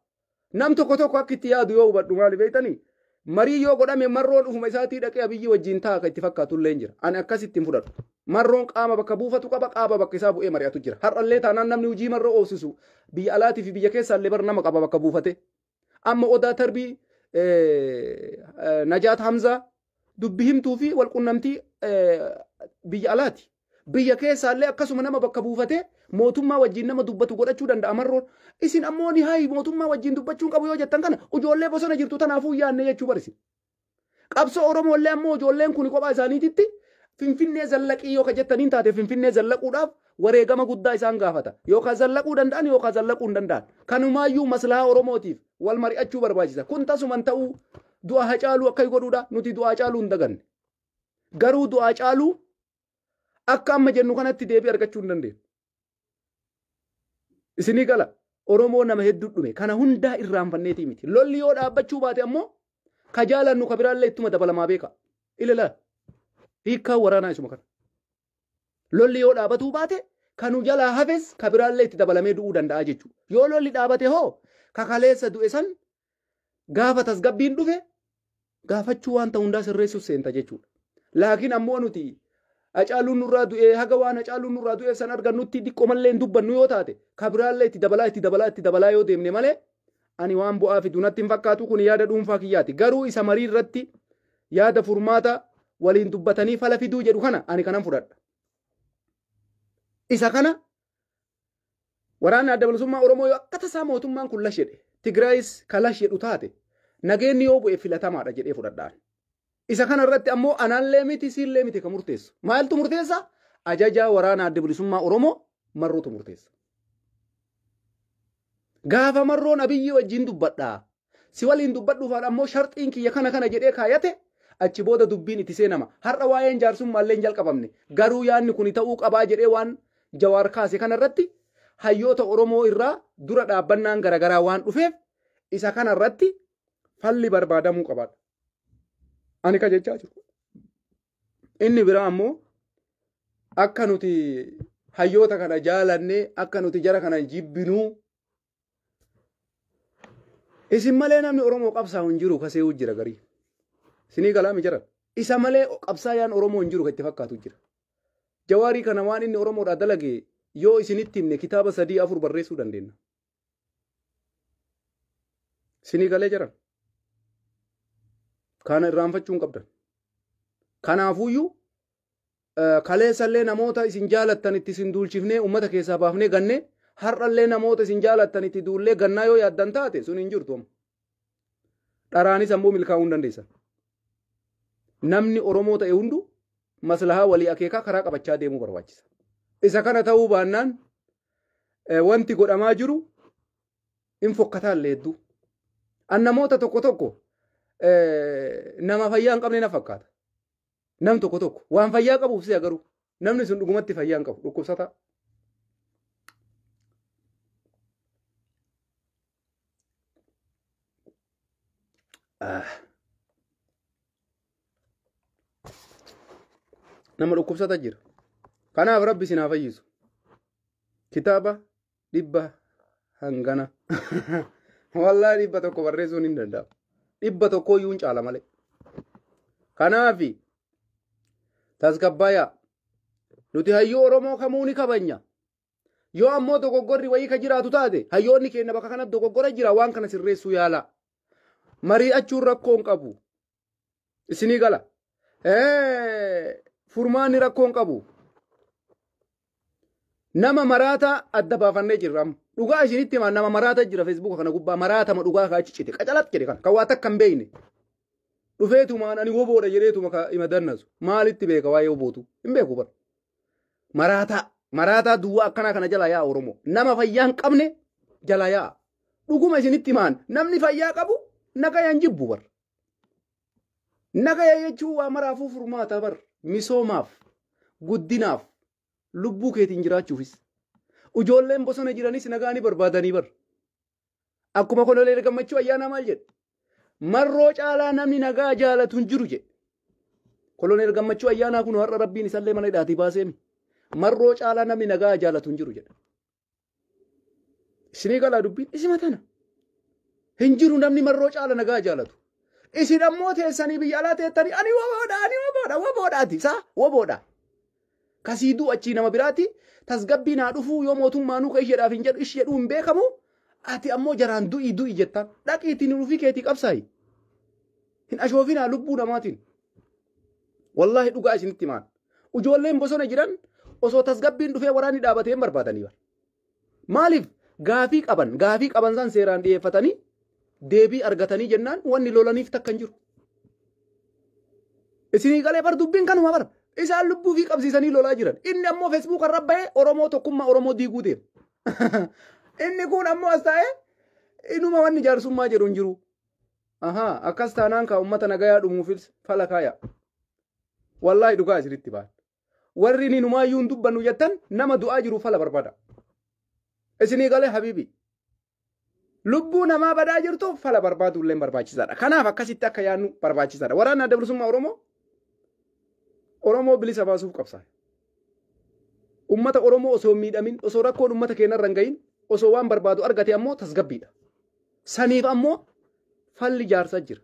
Nam tokko tokko akka itti yaadu yoo hubadhu maali beektanii? Marii yoo godhame marroon ofuma isaatii dhaqee abiyyii wajjin ta'a kan itti fakkaatu illee hin jira. Ani akkas ittiin fudhadhu. Marroon qaama bakka buufatu qaba qaama bakka isaa bu'ee mari'atu jira. Har'allee taanaan namni hojii marroo oofsisu biyya alaatii fi biyya keessaa illee bar nama qaba bakka buufate. Amma Odaa Tarbii Najaat Hamzaa dubbi himtuu fi walqunnamtii biyya alaati. Biyya keessaallee akkasuma nama bakka buufatee mootummaa wajjin nama dubbatu godhachuu danda'a marroon. Isin ammoo ni hayi mootummaa wajjin dubbachuun qabu yoo jettan kana ijoollee bosona jirtu tanaafuu yaanne jechuu barisi. Qabsoo Oromoo illee ammoo ijoolleen kun kophaa isaaniititti Finfinnee zallaqii yoo ka jettaniin taate Finfinnee zallaquudhaaf wareegama guddaa isaan gaafata. Yookaan zallaquu danda'an yookaan zallaquu hin danda'an. Kanumaayyuu maslahaa Oromootiif wal mari'achuu barbaachisa. Kun tasuman ta'uu du'a Hacaaluu akka godhuudha. Nuti du'a Hacaaluu hin daganne. Garuu du'a Hacaaluu akka amma jennu kanatti deebii argachuu hin dandeenye. Isinii gala Oromoo nama hedduu dhume kana hundaa irraanfanneetii miti. Lolli yoo dhaabbachuu baate ammoo ka jaalannu ka biraallee ittuma dabalamaa beeka. Ilala hiikkaa waraanaa isuma kana. Lolli yoo dhaabatuu baate ka nu jalaa hafes ka biraallee itti dabalamee du'uu danda'a jechuudha. Yoo lolli dhaabate hoo ka kaleessa du'e san Gaafa tasgabbiin dhufe gaafachuu wanta hundaa sirreessuuf seenta jechuudha. Laakiin ammoo nuti Hacaaluun nurraa du'ee haga waan Hacaaluun nurraa du'eef san argannutti diqqo mallee hin dubbannu yoo taate ka biraallee itti dabalaa itti dabalaa itti dabalaa yoo deemne malee ani waan bu'aa fidu natti hin fakkaatu kun yaada dhuunfaa kiyyaati. Garuu isa marii irratti yaada furmaata waliin dubbatanii fala fiduu jedhu kana ani kanan fudhadha. Isa kana Waraanni adda bilisummaa Oromoo yoo akka tasaa mootummaan kun lash jedhe, Tigraayis ka lash jedhu taate, nageenni yoo bu'e filatamaadha jedhee fudhadhaan. Isa kana irratti ammoo anallee miti siillee miti ka murteessu. Maaltu murteessa? Ajajaa waraana adda bilisummaa Oromoo marruutu murteessa. Gaafa marroon Abiyyi wajjin dubbadhaa, Si waliin dubbadhuufaan ammoo sharxiin kiyya kana kana jedhee kaayate achi booda dubbiin itti seenama. Har'a waa'een jaarsummaallee hin jalqabamne. Garuu yaadni kuni ta'uu qabaa jedhee waan Jawaar kaase kanarratti hayyoota Oromoo irraa dura dhaabbannaan garagaraa waan dhufeef isa kanarratti falli barbaadamuu qabaadha. Ani ka jechaa jiru. Inni biraa ammoo akka nuti hayyoota kana jaalannee akka nuti jara kana jibbinuu Isin malee namni Oromoo qabsaa'u hin jiru kasee'uu jira garii. Isinii galaami jira. Isa malee qabsaayaan Oromoo hin jiru kan itti fakkaatu jira. Jawaarii kana waan inni Oromoodhaa dalage yoo isinitti himne kitaaba sadii afur barreessuu dandeenya. Isinii galee jira. Kana irraanfachuu hin qabdan. Kanaafuyyuu Kaleessallee namoota isin jaalattan itti isin duulchifnee uummata keessaa baafnee ganne har'allee namoota isin jaalattan itti duullee gannaa yoo yaaddan taate sun hin jirtu amma. Dharaanis ammoo milkaa'uu hin dandeessan. Namni Oromoo ta'e hundu maslahaa walii akeekaa karaa qabachaa deemuu barbaachisa. Isa kana ta'uu baannaan wanti godhamaa jiru hin fokkataan leedduu. An namoota tokko tokko nama fayyaa hin qabne na fakkaata. Nam tokko tokko waan fayyaa qabuuf si'a garuu namni sun dhugumatti fayyaa hin qabu dhukkubsataa. Nama dhukkubsata jira. Kanaaf rabbi isin haa fayyisu. Kitaaba dhibba hangana wallaahi dhibba tokko barreessuun hin danda'amu dhibba tokkoo iyyuu hin caala malee kanaafi tasgabbaaya nuti hayyuu oromoo kamuu ni kabanya yoo ammoo dogoggorri wayii ka jiraatu taate hayyoonni keenya bakka kanatti dogoggora jira waan kana sirreessuu yaalaa mari'achuun rakkoo hin qabu isinii gala furmaanni rakkoon qabu nama maraataa adda baafannee jirra amma. dhugaa isinitti himaa nama maraata jira feesbuuka kana gubbaa maraatama dhugaa kaa achi cite qacalat jedhe kan kan waa takka hin beekne dhufeetumaan ani woboodha jedheetuma ka ima dannasu maalitti beeka waa'ee wobootu hin beeku bara maraataa maraataa duwwaa akkanaa kana jalaa yaa oromoo nama fayyaa hin qabne jalaa yaa dhuguma isinitti himaan namni fayyaa qabu nagayaan jibbu bara Nagaya jechuun waa maraafuu furmaataa bar misoomaaf guddinaaf lubbuu keetiin jiraachuufis. Ujoolleen bosona jiranis nagaa ni barbaadanii bar. Akkuma koloneel gammachuu ayyaanaa maal jedhe? Marroo caalaa namni nagaa jaalatu hin jiru jedhe. Koloneel gammachuu ayyaanaa kun har'a rabbiin isallee mana hidhaatii baaseemi. Marroo caalaa namni nagaa jaalatu hin jiru jedhe. Isinii galaa dubbiin isima tana. Hin jiru namni marroo caala nagaa jaalatu. Isin ammoo teessanii biyya alaa teettanii ani waboodha ani waboodha waboodhaati isaa waboodha. Kasii du'u achii nama biraati tasgabbii naa dhufuu yoo mootummaa nuuka isheedhaaf hin jedhu ishi jedhuu hin beekamu ati ammoo jaraan du'i du'i jettaan dhaqiitiin hin dhufii keetii qabsaayi. Hin ashoofinaa lubbuu namaatiin. Wallaahi dhugaa isinitti himaan. Ijoolleen bosona jiran osoo tasgabbiin dhufee waraanni dhaabatee hin barbaadanii bara. Maaliif gaafii qaban gaafii qaban san seeraan dhiyeeffatanii deebii argatanii jennaan wanni lolaniif takka hin jiru. Isinii galee bar dubbiin kanuma bara. Isaan lubbuu fi qabsiisanii lolaa jiran. Inni ammoo feesbuuk irra bahee Oromoo tokkummaa Oromoo diiguu deema. Inni kun ammoo as taa'ee inuma wanni jaarsummaa jedhu hin jiru. Ahaa akkas taanaan kaa uummata nagayaa dhumuufis fala kaaya. Wallaahi dhugaa isinitti baal. Warri ni numaayyuu hin dubbannu jettan nama du'aa jiru fala barbada. Isinii galee habiibi. Lubbuu namaa badaa jirtu fala barbaaduu illee barbaachisaadha. Kanaaf akkasitti akka yaadnu barbaachisaadha. Waraanni adda bilisummaa Oromoo Oromoo bilisa baasuuf qabsaa'e. Ummata Oromoo osoo hin miidhamin, osoo rakkoon ummata keenya irra hin gahin, osoo waan barbaadu argate ammoo tasgabbiidha. Saniif ammoo falli ijaarsa jira.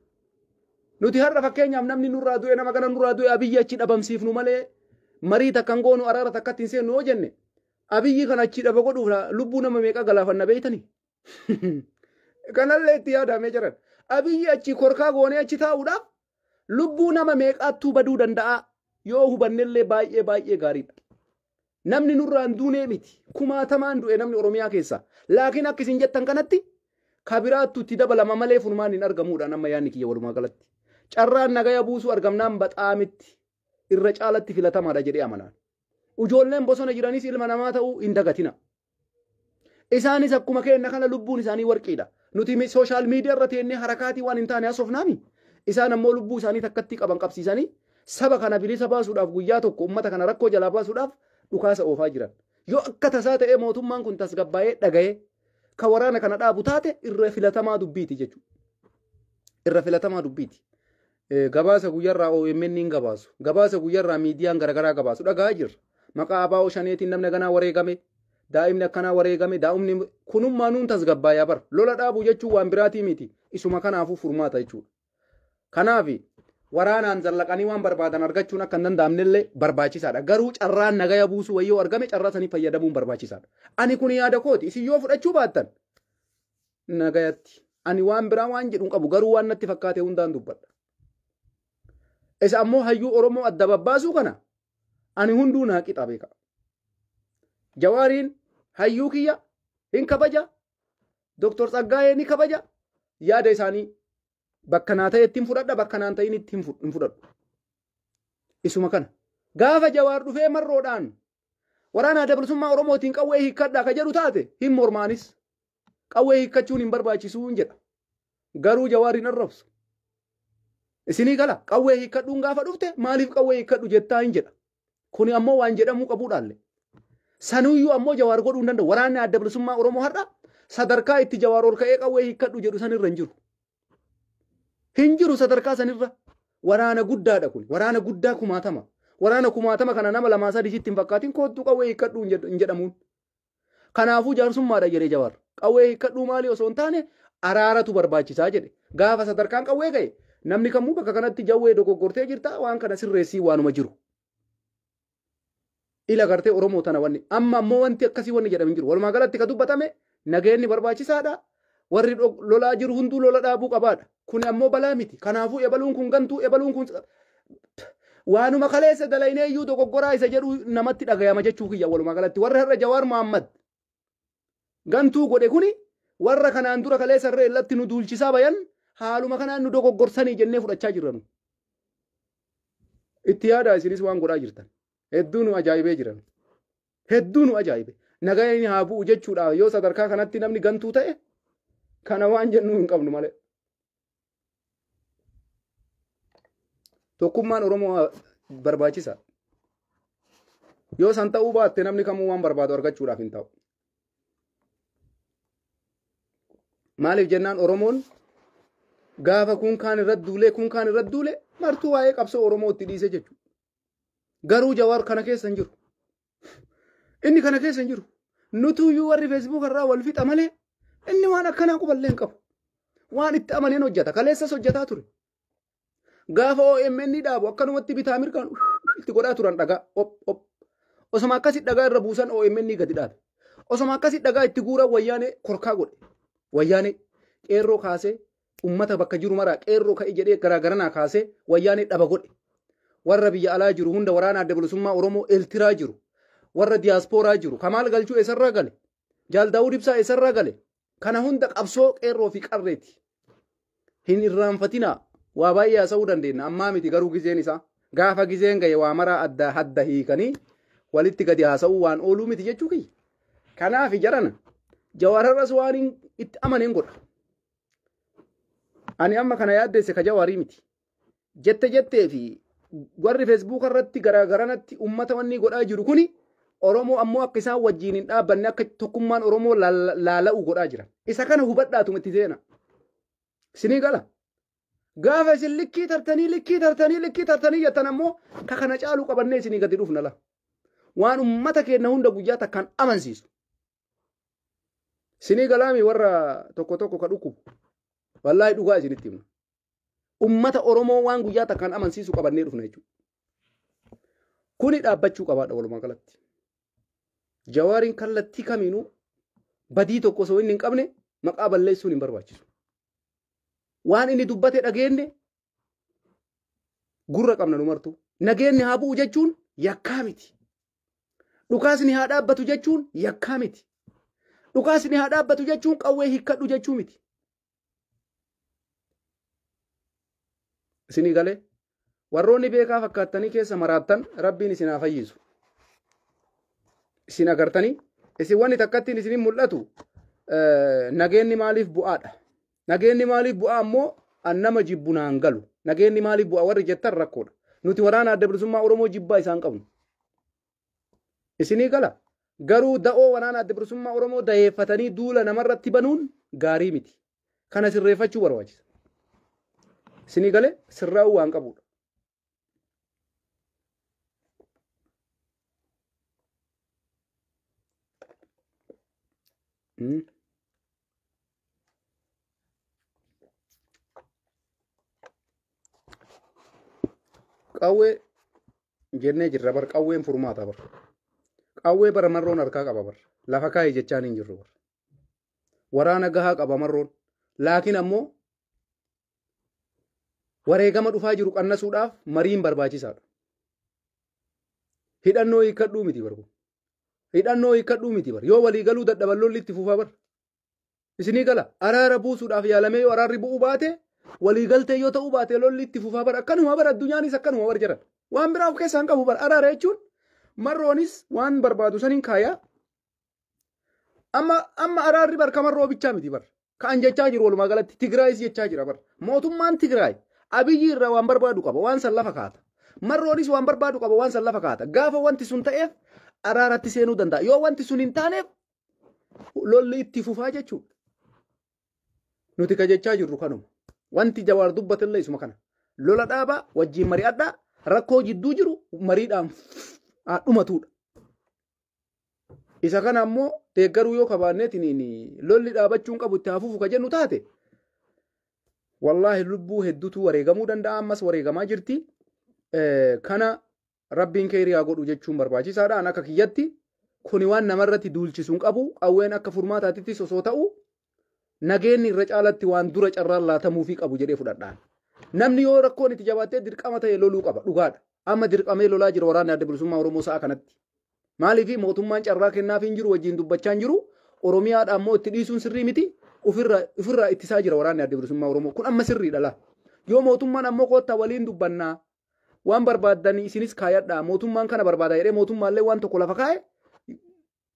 Nuti har'a fakkeenyaaf namni nurraa du'e nama kana nurraa du'e abiyyi achi dhabamsiifnu malee marii takka hin goonu araara takkatti hin seennu yoo jenne abiyyi kana achi dhaba godhuuf lubbuu nama meeqa galaafanna beeytani. Kanallee itti yaadaamee jiran. Abiyyi achi korkaa goonee achi taa'uudhaaf Lubbuu nama meeqaattuu baduu danda'aa yoo hubannellee baay'ee baay'ee gaariidha. Namni nurraan duunee miti. Kumaatamaan du'e namni Oromiyaa keessaa. Laakiin akka isin jettan kanatti kabiraattu itti dabalama malee furmaan hin argamuudha nama yaanni kiyya walumaa galatti. Carraan nagaya buusuu argamnaan baxaamitti irra caalatti filatamaadha jedhee amanaan. Ujoolleen bosona jiranis ilma namaa ta'uu hin dagatina. Isaanis akkuma keenna kana lubbuun isaanii warqiidha. Nuti mi- sooshaal miidiyaa irra teennee harakaatii waan hin taane haasofnaami. Isaan ammoo lubbuu isaanii takkatti qaban qabsiisanii saba kana bilisa baasuudhaaf guyyaa tokko uummata kana rakkoo jalaa baasuudhaaf dhukaasa oofaa jiran. Yoo akka tasaa ta'ee mootummaan kun tasgabbaa'ee dhaga'ee ka waraana kana dhaabu taate irra filatamaa dubbiiti jechuudha. Irra filatamaa dubbiiti. Gabaasa guyyarraa OMN'n gabaasu, gabaasa guyyarraa miidiyaan garagaraa gabaasu dhaga'aa jirra. Maqaa ABO shaneetiin namni aganaa wareegame, daa'imni akkanaa wareegame, daa'umni kunummaa nuun tasgabbaaya bar. Lola dhaabuu jechuun waan biraatii miti. Isuma kanaafuu furmaata jechuudha. Kanaaf waraanaan zallaqanii waan barbaadan argachuun akka hin danda'amnellee barbaachisaadha. Garuu carraan nagaya buusuu wayii yoo argame carraa sanii fayyadamuun barbaachisaadha. Ani kun yaada kooti. Isin yoo fudhachuu baattan nagayatti ani waan biraa waan jedhu hin qabu garuu waan natti fakkaate hundaan dubbadha. Isa ammoo hayyuu Oromoo adda babbaasuu kana ani hunduu naa qixa beeka. Jawaariin hayyuu kiyya hin kabaja Dooktor Tsaggaayee ni kabaja yaada isaanii bakka naa ta'etti hin fudhadha bakka naan ta'initti hin fud- hin fudhadhu. Isuma kana. Gaafa jawaar dhufee marroodhaan waraana adda bilisummaa Oromootiin qawwee hiikkadhaa ka jedhu taate hin mormaanis. Qawwee hiikkachuun hin barbaachisuun jedha. Garuu Jawaar hin arrabsu. Isinii gala qawwee hiikkadhuun gaafa dhufte maaliif qawwee hiikkadhu jettaa hin jedha. Kuni ammoo waan jedhamuu qabuudhaalle. Sanuyyuu ammoo Jawaar godhuu hin danda'u. Waraanni adda bilisummaa Oromoo har'a sadarkaa itti Jawaar ol ka'ee qawwee hiikkadhu jedhu sanirra hin jiru. Hin jiru sadarkaa sanirra. Waraana guddaadha kun. Waraana guddaa kumaatama. Waraana kumaatama kana nama lamaa sadii sitti hin fakkaatin koottuu qawwee hiikkadhu hin jedhamuun. Kanaafuu jaarsummaadha jedhee Jawaar. Qawwee hiikkadhuu maalii osoo hin taane araaratu barbaachisaa jedhe. Gaafa sadarkaan qawwee ga'e namni kamuu bakka kanatti jawwee dogoggortee jirta waan kana sirreessii waanuma jiru. Ila gartee Oromoo tana wanni amma ammoo wanti akkasii wanni jedhamu hin jiru. Walumaa galatti ka dubbatame nageenni barbaachisaadha. Warri lolaa jiru hunduu lola dhaabuu qabaadha. Kuni ammoo balaa miti. Kanaafuu ebaluun kun gantuu ebaluun kun waanuma kaleessa dalaynee iyyuu dogoggoraa isa jedhu namatti dhagayama jechuu kiyya walumaa galatti warra har'a Jawaar Mohammad gantuu godhe kuni warra kanaan dura kaleessa irra irratti nu duulchisaa bayan haaluma kanaan nu dogoggorsanii jennee fudhachaa jirra nu. Itti yaadaa isinis waan godhaa jirtan. Hedduu nu ajaa'ibee jiran. hedduu nu ajaa'ibe. Nagayni haa bu'u jechuudha yoo sadarkaa kanatti namni gantuu ta'e kana waan jennuu hin qabnu malee. Tokkummaan Oromoo barbaachisa. Yoo san ta'uu baatte namni kamuu waan barbaadu argachuudhaaf hin ta'u. Maaliif jennaan Oromoon gaafa kun kaan irratti duulee kun kaan irratti duulee martuu waa'ee qabsoo Oromoo itti dhiise jechuudha. Garuu Jawaar kana keessa hin jiru. Inni kana keessa hin jiru. Nutuu iyyuu warri Facebook irraa wal fixa malee inni waan akkanaa quballee hin qabu. Waan itti amaneen hojjeta. Kaleessas hojjetaa ture. Gaafa OMN ni dhaabu akkanumatti bitaa mirgaan itti godhaa turan dhagaa. Op, op. Osoma akkasi dhagaa irra buusan OMN ni gadi dhaabe. Osoma akkasi dhagaa itti guuran wayyaanee korkaa godhe. Wayyaanee qeerroo kaasee Ummata bakka jiru maraa qeerroo ka'i jedhee garaa garanaa kaasee wayyaanee dhaba godhe. Warra biyya alaa jiru hunda waraana adda bilisummaa Oromoo Eltiraa jiru. Warra diyaaspooraa jiru. Kamaal Galchuu eessarraa gale? Jaal Daawud Ibsaa eessarraa gale? Kana hunda qabsoo qeerroo fi qarreeti. Hin irraanfatinaa. Waa baay'ee haasa'uu dandeenya. Ammaa miti garuu gizeen isaa. Gaafa gizeen ga'e waa maraa adda hadda hiikanii walitti gadi haasa'uu waan ooluu miti jechuu kiyya. Kanaaf jarana jawaararras waan itti amanen godha. Ani amma kana yaaddeesse ka jawaarii miti. Jette jettee fi warri feesbuuka irratti garagaranatti uummata wanni godhaa jiru kuni Oromoo ammoo akka isaan wajjin hin dhaabbanne akka tokkummaan Oromoo laala'u godhaa jira. Isa kana hubadhaatuma itti seena. Sinii gala. Gaafa isin likkii tartanii likkii tartanii likkii tartanii jettan ammoo ka kana caalu qabannee isinii gadi dhufna la. Waan uummata keenya hunda guyyaa takkaan amansiisu. Sinii galaami warra tokko tokko ka dhukkubu. Wallaahi dhugaa isinitti hima. Ummata Oromoo waan guyyaa takkaan amansiisu qabannee dhufna jechuudha. Kuni dhaabbachuu qabaadha walumaa galatti. Jawaariin kallattii kamiinuu badii tokko osoo inni hin qabne maqaa balleessuun hin barbaachisu. Waan inni dubbate dhageenye Gurra qabna nu martuu. Nageenni haa bu'u jechuun yakkaa miti. Dhukaasni haa dhaabbatu jechuun yakkaa miti. Dhukaasni haa dhaabbatu jechuun qawwee hiikkadhu jechuu miti. Isinii galee warroonni beekaa fakkaattanii keessa maraattan rabbiin isin haa fayyisu. Isin agartanii isin wanni takkattiin isinin mul'atu nageenni maaliif bu'aadha. Nageenni maaliif bu'aa ammoo an nama jibbu naan galu. Nageenni maaliif bu'aa warri jettan rakkoodha. Nuti waraana adda bilisummaa Oromoo jibbaa isaan qabnu. Isinii gala. Garuu da'oo waraana adda bilisummaa Oromoo dayeeffatanii duula namarratti banuun gaarii miti. Kana sirreeffachuu barbaachisa. Isinii galee sirraa'uu waan qabudha. Hmm? Qawwee jennee jirra bar qawween furmaata bar. Qawwee bara marroon harkaa qaba bar. Lafa kaa'e jechaan hin jirru bar. Waraana gahaa qaba marroon. Laakiin ammoo wareegama dhufaa jiru qannasuudhaaf mariin barbaachisaadha. Hidhannoo hiikkadhuu miti bar kun. Hidhannoo hiikkadhuu miti bar. Yoo walii galuu dadhaban lolli itti fufaa bar. Isinii gala araara buusuudhaaf yaalamee yoo araarri bu'uu baate walii galtee yoo ta'uu baate lolli itti fufaa bar. Akkanuma bar addunyaanis akkanuma bar jedhan. Waan biraa of keessaa hin qabu bar araara jechuun marroonis waan barbaadu saniin kaayaa Amma amma araarri bar kaman roobichaa miti bar. Kan jechaa jiru walumaa galatti Tigraayis jechaa jira bar. Mootummaan Tigraay abiyyi irraa waan barbaadu qaba waan san lafa kaata. Marroonis waan barbaadu qaba waan san lafa kaata. Gaafa wanti sun ta'eef araaratti seenuu danda'a. Yoo wanti sun hin taaneef lolli itti fufaa jechuudha. Nuti ka jechaa jirru kanuma. Wanti jawaar dubbatillee isuma kana. Lola dhaabaa wajjin mari'adhaa rakkoo jidduu jiru mariidhaan haa dhumatuudha. Isa kana ammoo deeggaruu yoo kabaanneetiin lolli dhaabachuun qabu itti hafuufu ka jennu taate wallaahi lubbuu hedduutu wareegamuu danda'a ammas wareegamaa jirti. Kana rabbiin keerii haa godhu jechuun barbaachisaadha. An akka kiyyatti kuni waan namarratti duulchisu hin qabu qawween akka furmaataatittis osoo ta'u nageenni irra caalatti waan dura carraan laatamuufii qabu jedhee fudhadhaan. Namni yoo rakkoon itti jabaattee dirqama ta'e loluu qaba dhugaadha. Amma dirqamee lolaa jira waraanni adda bilisummaa Oromoo sa'a kanatti. Maaliif mootummaan carraa kennaa fi hin jiru wajjin dubbachaa hin jiru Oromiyaadha ammoo itti dhiisuun sirrii miti ofirraa ittisaa jira waraanni adda bilisummaa Oromoo kun amma sirriidha laa. Yoo mootummaan ammoo koottaa waliin dubbannaa waan barbaaddanii isinis kaayadhaa mootummaan kana barbaada jedhee mootummaallee waan tokko lafa kaa'e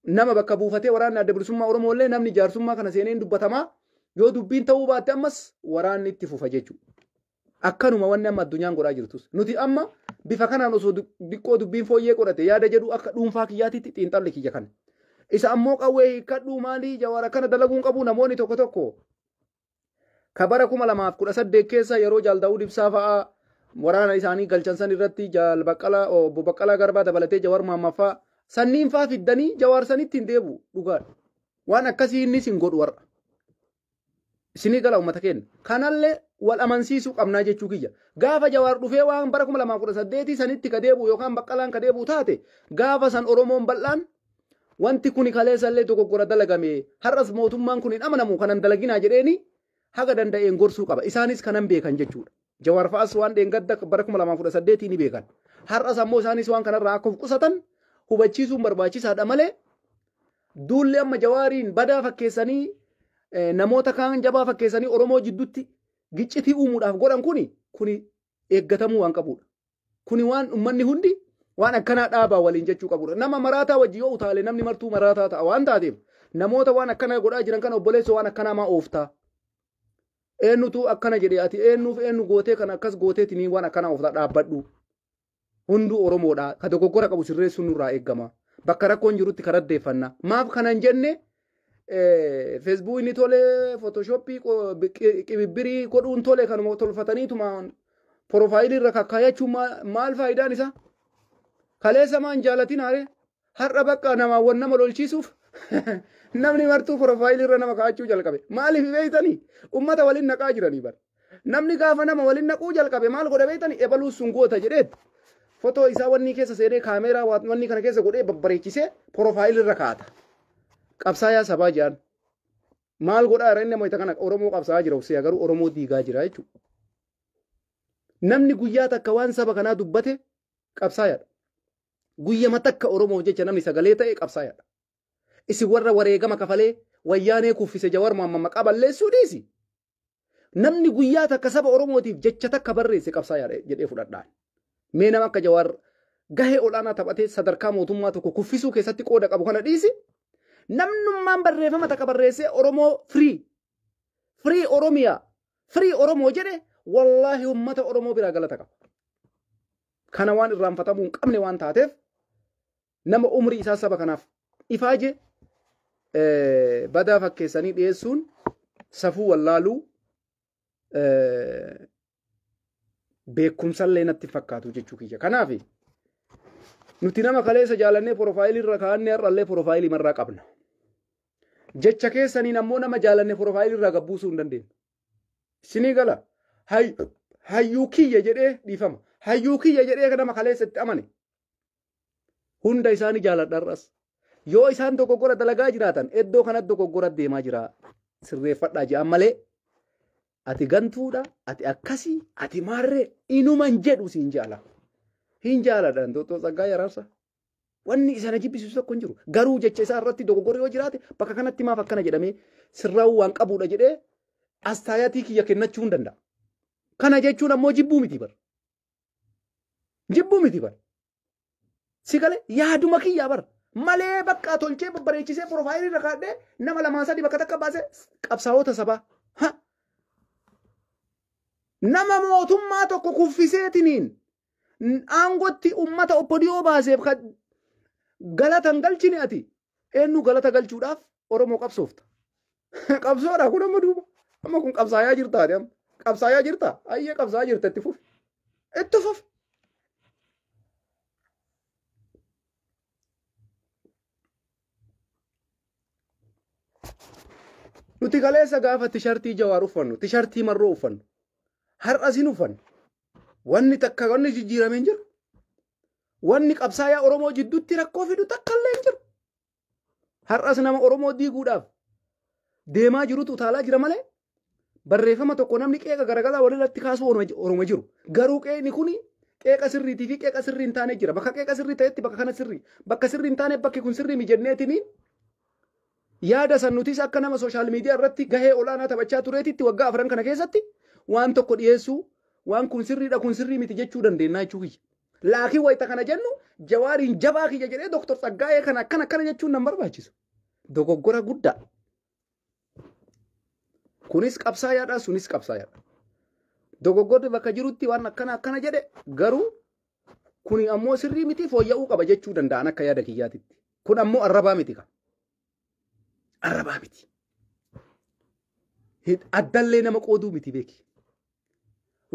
nama bakka buufatee waraanni adda bilisummaa Oromoo illee namni jaarsummaa kana seenee hin dubbatamaa yoo dubbiin ta'uu baatte ammas waraanni itti fufa jechuudha. Akkanuma wanni amma addunyaan godhaa jirtus. Nuti amma bifa kanaan osoo du- diqqoo dubbiin fooyyee godhate yaada jedhu akka dhuunfaa kiyyaatitti xiinxalli kiyya kana. Isa ammoo qawwee hiikkadhuu maalii jawaara kana dalaguun qabu namoonni tokko tokko Ka bara 2018 keessa yeroo Jaal Daawud Ibsaa fa'aa waraana isaanii galchan san irratti Jaal Baqqalaa obbo Baqqalaa Garbaa dabalatee Jawaar Mohammad fa'aa sanniin fa'aa fiddanii Jawaar sanitti hin deebi'u dhugaadha. Waan akkasii innis hin godhu warra. Isinii gala uummata keenya. Kanallee wal amansiisuu qabnaa jechuu kiyya. Gaafa Jawaar dhufee waan bara 2018 sanitti ka deebi'u yookaan Baqqalaan ka deebi'u taate gaafa san Oromoon bal'aan Wanti kuni kaleessallee dogoggora dalagame har'as mootummaan kun hin amanamu kanan dalaginaa jedheeni haga danda'een gorsuu qaba. Isaanis kanan beekan jechuudha. Jawaar fa'as waan dheengadda bara 2018 ni beekan. Har'as ammoo isaanis waan kanarraa akka of qusatan hubachiisuun barbaachisaadha malee duulli amma jawaariin badaa fakkeessanii eh, namoota kaan jabaa fakkeessanii Oromoo jidduutti giccitii uumuudhaaf godhan kuni kuni eeggatamuu waan qabudha. Kuni waan ummanni hundi waan akkanaa dhaabaa waliin jechuu qabudha. Nama maraataa wajji yoo utaale namni martuu maraataa ta'a waan taateef namoota waan akkanaa godhaa jiran kana obboleessa waan akkanaa maa ooftaa? Eenyutu akkana jedhe ati eenyuuf eenyu gootee kana akkas gooteetinii waan akkanaa ooftaa dhaabbadhu. Hunduu Oromoodha. Ka dogoggora qabu sirreessuun nurraa eegama. Bakka rakkoon jirutti karaddeeffanna. Maaf kanan jenne Feesbuukni tole, Footooshooppii qibibbirii godhuun tole kanuma tolfataniituma porofaayilii irra kakkaayachuun maal faayidaan isaa? Kaleessa maan jaalatin haaree har'a bakka namaa wan nama lolchiisuuf namni martuu porofaayilii irra nama kaa'achuu jalqabe. Maaliif beektanii? Uummata waliin naqaa jiranii bara. Namni gaafa nama waliin naquu jalqabe maal godha beektani ebaluu sun goota jedheet fotoo isaa wannii keessa seenee kaameeraa wannii kana keessa godhee babbareechisee porofaayilii irra kaata. Qabsaayaa sabaa jaan maal godhaa irra inni ammoo kana Oromoo qabsaa'aa jira uffisee garuu Oromoo diigaa jira jechuudha. Namni guyyaa takka waan saba kanaa dubbate qabsaayaadha. Guyyama takka Oromoof jecha namni sagalee ta'e qabsaayaadha. Isin warra wareegama kafalee wayyaanee kuffise jawar maamma maqaa balleessuu dhiisi. Namni guyyaa takka saba Oromootiif jecha takka barreesse qabsaa'aa jedhee fudhadhaan. Mee nama akka Jawaar gahee ol'aanaa taphatee sadarkaa mootummaa tokko kuffisuu keessatti qooda qabu kana dhiisi. Namnummaan barreeffama takka barreessee Oromoo firii, firii Oromiyaa, firii Oromoo jedhe wallaahi uummata Oromoo biraa galata qaba. Kana waan irraanfatamuu hin qabne waan taateef nama umrii isaa saba kanaaf ifaaje badaa fakkeessanii dhiyeessuun safuu wallaaluu beekumsallee natti fakkaatu jechuu kiyya. Kanaaf nuti nama kaleessa jaalannee porofaayilii irra kaa'annee har'allee porofaayilii marraa qabna. Jecha keessaniin ammoo nama jaalannee porofaayilii irraa gabbuusuu hin dandeenyu. Isinii gala hayyuu kiyya jedhee dhiifama. Hayyuu kiyya jedhee nama kaleessa itti amane. Hunda isaanii jaaladha har'as. Yoo isaan dogoggora dalagaa jiraatan iddoo kanatti dogoggora deemaa jira sirreeffadhaa jedhan malee ati gantuudha ati akkasii ati maarree inuman jedhu siin jaala. Hin jaaladha Dooktor Tsaggaayee Araarsaa. Wanni isa na jibbisiisu tokko hin jiru. Garuu jecha isaa irratti dogoggorri yoo jiraate bakka kanatti maaf akkana jedhamee sirraa'uu waan qabuudha jedhee astaayatii kiyya kennachuu hin danda'a. Kana jechuun ammoo jibbuu miti bar. Jibbuu miti bar. Si galee yaaduma kiyyaa bar. Malee bakka tolchee babbareechisee piroofaayilii irra kaadhee nama lamaa sadii bakka takka baasee qabsaa'ota sabaa. Ha! Nama mootummaa tokko kuffiseetiniin aangotti ummata oppodiyoo baaseef kan galata hin galchine ati eenyu galata galchuudhaaf Oromoo qabsoofta. Qabsoodha kun amma duuba. Amma kun qabsaayaa jirtaati amma. Qabsaayaa jirta. Ayyee qabsaayaa jirta itti fufi. Itti fufi. Nuti kaleessa gaafa tishartii jawaar uffannu, tishartii marroo uffannu. Har'as hin uffannu. Wanni takka wanni jijjiiramee hin jiru. Wanni qabsaayaa Oromoo jidduutti rakkoo fidu takka illee hin jiru. Har'as nama Oromoo diiguudhaaf deemaa jirutu utaalaa jira malee barreeffama tokko namni qeeqa garagalaa walirratti kaasuu Oromoo jiru. Garuu qeeqni kun qeeqa sirriitii fi qeeqa sirrii hin taane jira. Bakka qeeqa sirrii ta'etti bakka kana sirrii. Bakka sirrii hin taane bakki kun sirrii mijenneetiin yaada san nutis akka nama sooshaal miidiyaa irratti gahee olaanaa taphachaa tureetitti waggaa afran kana keessatti waan tokko dhiyeessuu waan kun sirriidha kun sirrii miti jechuu dandeenya jechuu kiyya. Laakiin wayita kana jennu jawaariin jabaa kiyya jedhee Dr. Tsaggaayee kana akkana akkana jechuun nan barbaachisu. Dogoggora guddaa. Kunis qabsaayaadha sunis qabsaayaadha. Dogoggorri bakka jirutti waan akkana akkana jedhe garuu kuni ammoo sirrii miti fooyya'uu qaba jechuu danda'an akka yaada kiyyaatitti. Kun ammoo arrabaa miti kan. Arrabaa miti. Addallee nama qooduu miti beeki.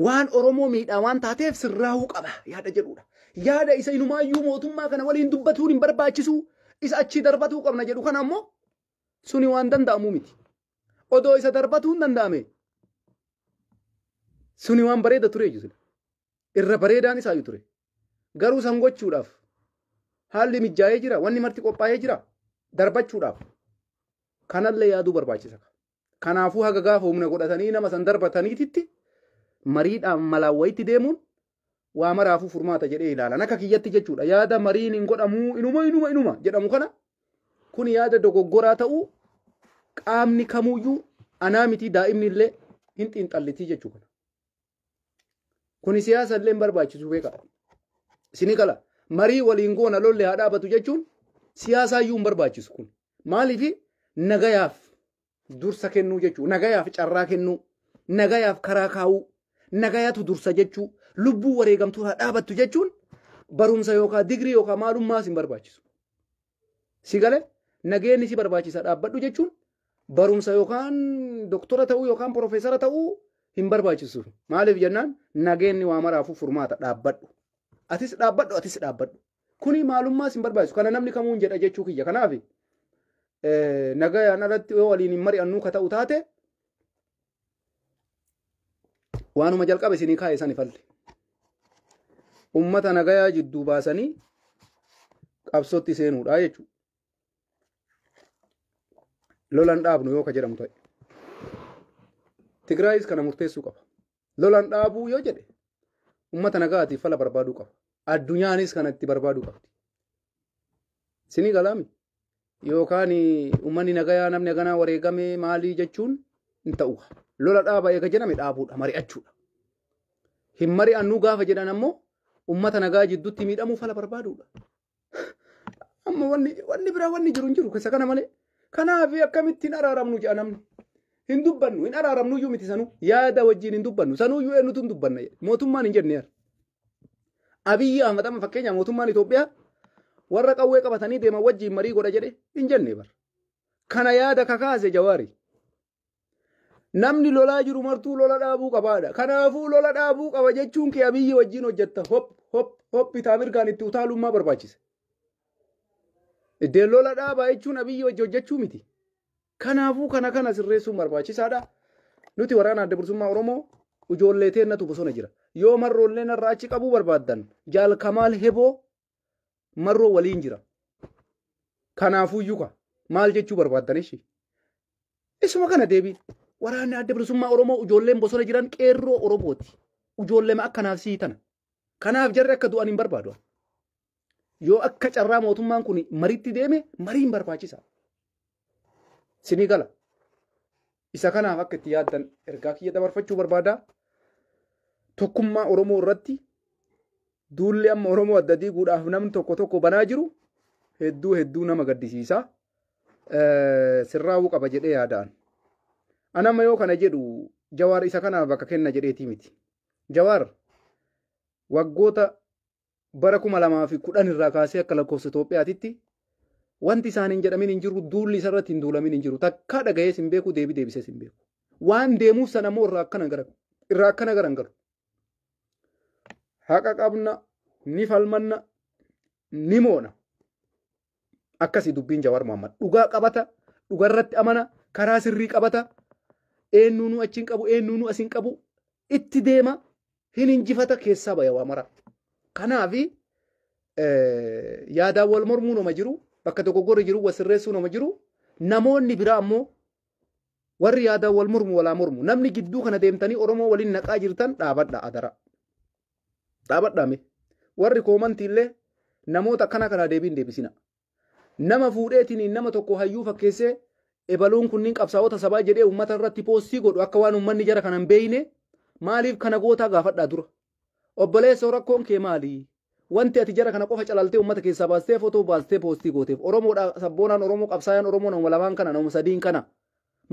waan Oromoo miidhaa waan taateef sirraahuu qaba yaada jedhuudha. Yaada isa inumaayyuu mootummaa kana waliin dubbatuun hin barbaachisu isa achii darbatuu qabna jedhu kana ammoo suni waan danda'amu miti. Odoo isa darbatuun danda'ame suni waan bareeda ture jechuudha. Irra bareedaan isaayyuu ture. Garuu san gochuudhaaf haalli mijaa'ee jira wanni marti qophaa'ee jira darbachuudhaaf kanallee yaaduu barbaachisa. Kanaafuu haga gaafa humna godhatanii nama san darbataniititti mariidhaan malaan wayitti deemuun waa maraafuu furmaata jedhee ilaalan akka kiyyatti jechuudha yaada mariin hin godhamuu inuma inuma inuma jedhamu kana kun yaada dogoggoraa ta'uu qaamni kamuyyuu anaa mitii daa'imni illee hin xiinxallitii jechuu kana. Kuni siyaasa illee hin barbaachisu beeka. Sini kala marii waliin goona lolli haa dhaabatu jechuun siyaasaa iyyuu hin barbaachisu kun. Maaliif nagayaaf dursa kennuu jechuudha. Nagayaaf carraa kennuu, nagayaaf karaa kaa'uu, nagayatu dursa jechuu, lubbuu wareegamtuu haa dhaabattu jechuun barumsa yookaan digirii yookaan maalummaas hin barbaachisu. Si gale nageenyi si barbaachisa dhaabbadhu jechuun barumsa yookaan doktora ta'uu yookaan profeesara ta'uu hin barbaachisu. Maaliif jennaan nageenyi waa maraafuu furmaata dhaabbadhu. Atis dhaabbadhu atis dhaabbadhu. Kuni maalummaas hin barbaachisu. Kana namni kamuu hin jedha jechuu kiyya. Kanaaf nagayaan alatti yoo waliin hin mari'annuu ka ta'u taate waanuma jalqaba isinii kaa'e sani falle ummata nagayaa jidduu baasanii qabsootti seenuudha jechuudha. Lolan dhaabnu yoo ka jedhamu ta'e. Tigraayis kana murteessuu qaba. Lolan dhaabuu yoo jedhe ummata nagaatiif fala barbaaduu qaba. Addunyaanis kana itti barbaaduu qabdi. Sinii galaami. Yookaan uummanni nagayaa namni haganaa wareegamee maalii jechuun hin ta'u. Lola dhaaba eega jedhame dhaabuudha mari'achuudha. Hin mari'annuu gaafa jedhan ammoo uummata nagaa jidduutti miidhamuu fala barbaaduudha. Amma wanni wanni biraa wanni jiru hin jiru keessa kana malee. Kanaaf akkamitti hin araaramnu jedha namni. Hin dubbannu hin araaramnu iyyuu miti sanuu yaada wajjin hin dubbannu sanuu iyyuu eenyutu hin dubbanna jedhe mootummaan hin jenne jedha. Abiyyi Ahmad amma fakkeenya mootummaan Itoophiyaa warra qawwee qabatanii deeman wajjin marii godha jedhe hin jenne bar. Kana yaada kakaase jawaari. Namni lolaa jiru martuu lola dhaabuu qabaadha. Kanaafuu lola dhaabuu qaba jechuun kee abiyyi wajjin hojjetta. Hop hop hop bitaa mirgaan itti utaalummaa barbaachisa. Iddeen lola dhaabaa jechuun abiyyi wajji hojjechuu miti. Kanaafuu kana kana sirreessuun barbaachisaadha. Nuti waraana adda bilisummaa Oromoo ijoollee teennatu bosona jira. Yoo marroollee narraa achi qabuu barbaaddan jaal Kamaal Heboo marroo waliin jira. Kanaafuu yuka maal jechuu barbaaddan ishi? Isuma kana deebiin. Waraanni adda bilisummaa Oromoo ijoolleen bosona jiran qeerroo Oromooti. Ijoolleema akka naasii tana. Kanaaf jarri akka du'an hin barbaadu. ani. Yoo akka carraa mootummaan kun mariitti deeme mariin barbaachisa. Sinii gala. Isa kanaaf akka itti yaaddan ergaa kiyya dabarfachuu barbaada. Tokkummaa Oromoo irratti duulli amma Oromoo adda diiguudhaaf namni tokko tokko banaa jiru hedduu hedduu nama gaddisiisa. Eh, Sirraa'uu qaba jedhee yaadaan. Anamma yoo kana jedhu jawaar isa kanaaf bakka kenna jedheetii miti. Jawaar waggoota bara 2010 irraa kaasee akka lakkoofsa Itoophiyaatitti wanti isaan hin jedhamin hin jiru duulli isarratti hin duulamin hin jiru takkaa dhagayees hin beeku deebii deebisees hin beeku. Waan deemuuf sana immoo irraa akkana gara irraa akkana gara hin galu. Haqa qabna ni falmanna ni moona. Akkasi dubbiin Jawaar Mohammad. Dhugaa qabata, dhuga irratti amana, karaa sirrii qabata, eennuunuu achi hin qabu, eennuunuu as hin qabu, itti deema, hin injifata keessaa baya waa mara. Kanaafi yaadaan wal mormuu nama jiru, bakka dogoggorri jiru wal sirreessuu nama jiru, namoonni biraa ammoo warri yaadaan wal mormu walaa mormu. Namni gidduu kana deemtanii Oromoo waliin naqaa jirtan dhaabadha adara. dhaabadhaame warri koomantiillee namoota akkana kanaa deebiin deebisina nama fuudheetiin nama tokko hayyuu fakkeessee ebaluun kunniin qabsaa'ota sabaa jedhee uummata irratti poostii godhu akka waan uummanni jara kana hin beeyne maaliif kana gootaa gaafadhaa dura obboleessoo rakkoon kee maali wanti ati jara kana qofa calaltee uummata keessaa baastee fotoo baastee poostii gooteef oromoodha sabboonaan oromoo qabsaayaan oromoo nama lamaan kana nama sadiin kana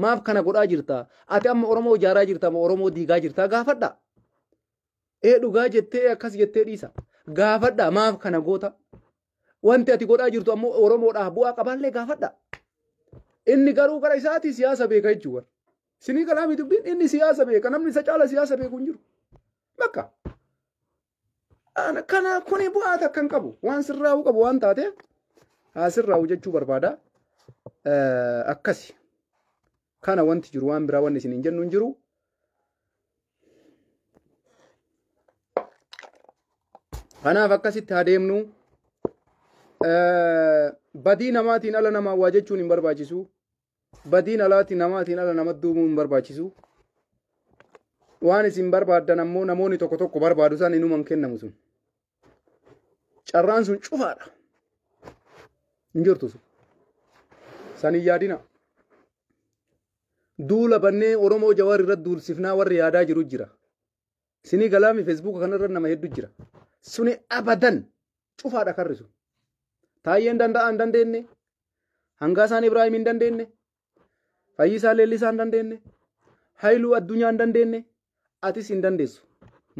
maaf kana godhaa jirta ati amma oromoo ijaaraa jirta moo oromoo diigaa jirta gaafadha Ee dhugaa jettee akkas jettee dhiisa. Gaafadha maaf kana goota? Wanti ati godhaa jirtu ammoo Oromoodhaaf bu'aa qabaallee gaafadha. Inni garuu gara isaati siyaasa beeka jechuudha. Sinii kalaamii dubbiin inni siyaasa beeka namni isa caala siyaasa beeku hin jiru. Bakka. Kana kuni bu'aa takka hin qabu. Waan sirraa'uu qabu waan taateef haa sirraa'u jechuu barbaada. Akkasi. Kana wanti jiru waan biraa wanni isiniin jennu hin jiru. Kanaaf akkasitti haa deemnu. Badii namaatiin ala namaa waa jechuun hin barbaachisu. Badiin alaati namaatiin ala nama duubuu hin barbaachisu. Waan isin barbaaddan ammoo namoonni tokko tokko barbaadu san inuman kennamu sun. Carraan sun cufaadha. Hin jirtu sun. San hin yaadina. Duula bannee Oromoo Jawaar irratti duulsifnaa warri yaadaa jiru jira. Sinii galaami Feesbuuka kanarra nama heddu jira. Suni abadan cufaadha karri sun. Taayyeen danda'aa hin dandeenye. Hangaasaan Ibraahim hin dandeenye. Fayyisaa Leellisaa hin dandeenye. Hayiluu Addunyaa hin dandeenye. Atis hin dandeessu.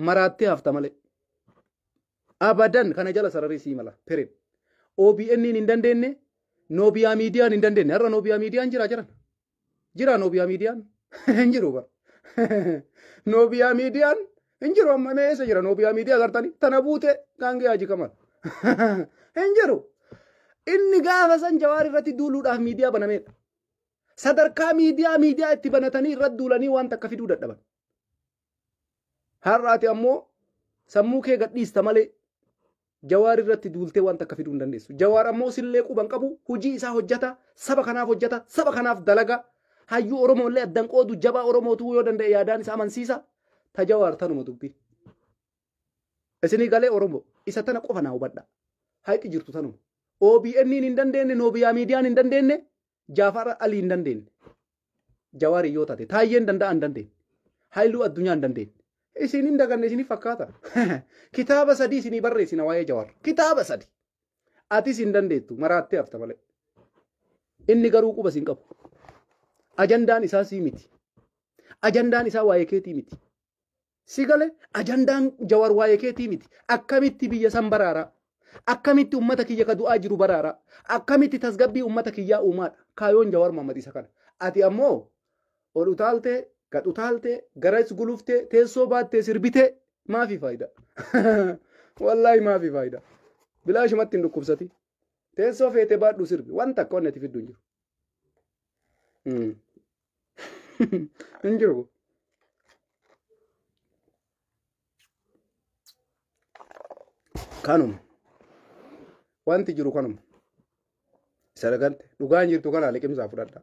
Maraattee hafta malee. Abadan kana jala sararii sii mala. Period. OBN hin dandeenye. Noobiyaa miidiyaan hin dandeenye. Har'a Noobiyaa miidiyaan jira jiran. Jira Noobiyaa miidiyaan. Hin jiru bara. Noobiyaa miidiyaan hin jiru amma mee eessa jira noobiyaa miidiyaa agartanii tana buute gaangee haji kamal hin jiru inni gaafa san jawaar irratti duuluudhaaf miidiyaa banameedha sadarkaa miidiyaa miidiyaa itti banatanii irratti duulanii waan takka fiduu dadhaban har'aati ammoo sammuu kee gadhiista malee Jawaar irratti duultee waan takka fiduu hin dandeessu. Jawaar ammoo sillee quban qabu hojii isaa hojjata saba kanaaf hojjata saba kanaaf dalaga hayyuu Oromoo illee addan qoodu jabaa Oromootu yoo danda'e yaadaan isa amansiisa ta Jawaar tanuma dubbi. Isinii galee Oromoo isa tana qofa naa hubadha. Hayxi jirtu tanuma. OBN hin dandeenye Noobiyaa miidiyaan hin dandeenye Jaafaar Alii hin dandeenye. Jawaar yoo taate taayyeen danda'a hin dandeenye. Haayiluu addunyaa hin dandeenye. Isin hin daganne isinii fakkaata. Kitaaba sadii isinii barreessina waa'ee Jawaar. Kitaaba sadii. Atis hin dandeettu maraattee hafta malee. Inni garuu quba isin qabu. Ajandaan isaa sii miti. Ajandaan isaa waa'ee keetii miti. Si gale ajandaan jawar waa'ee keetii miti. Akkamitti biyya san baraaraa? Akkamitti ummata kiyya ka du'aa jiru baraaraa? Akkamitti tasgabbii ummata kiyyaa uumaadha? Kaayoon jawar Muhammad isa kana. Ati ammoo ol utaaltee gad utaaltee garas guluftee teessoo baattee sirbitee maafi faayidaa? Wallaahi maafi faayidaa? Bilaashumatti hin dhukkubsati. Teessoo feete baadhu sirbi. Wanta akka wanni ati fiddu hin jiru. Mm. hin jiru. Kanuma. Wanti jiru kanuma. Isa dhagante dhugaan jirtu kana liqimsaa fudhadha.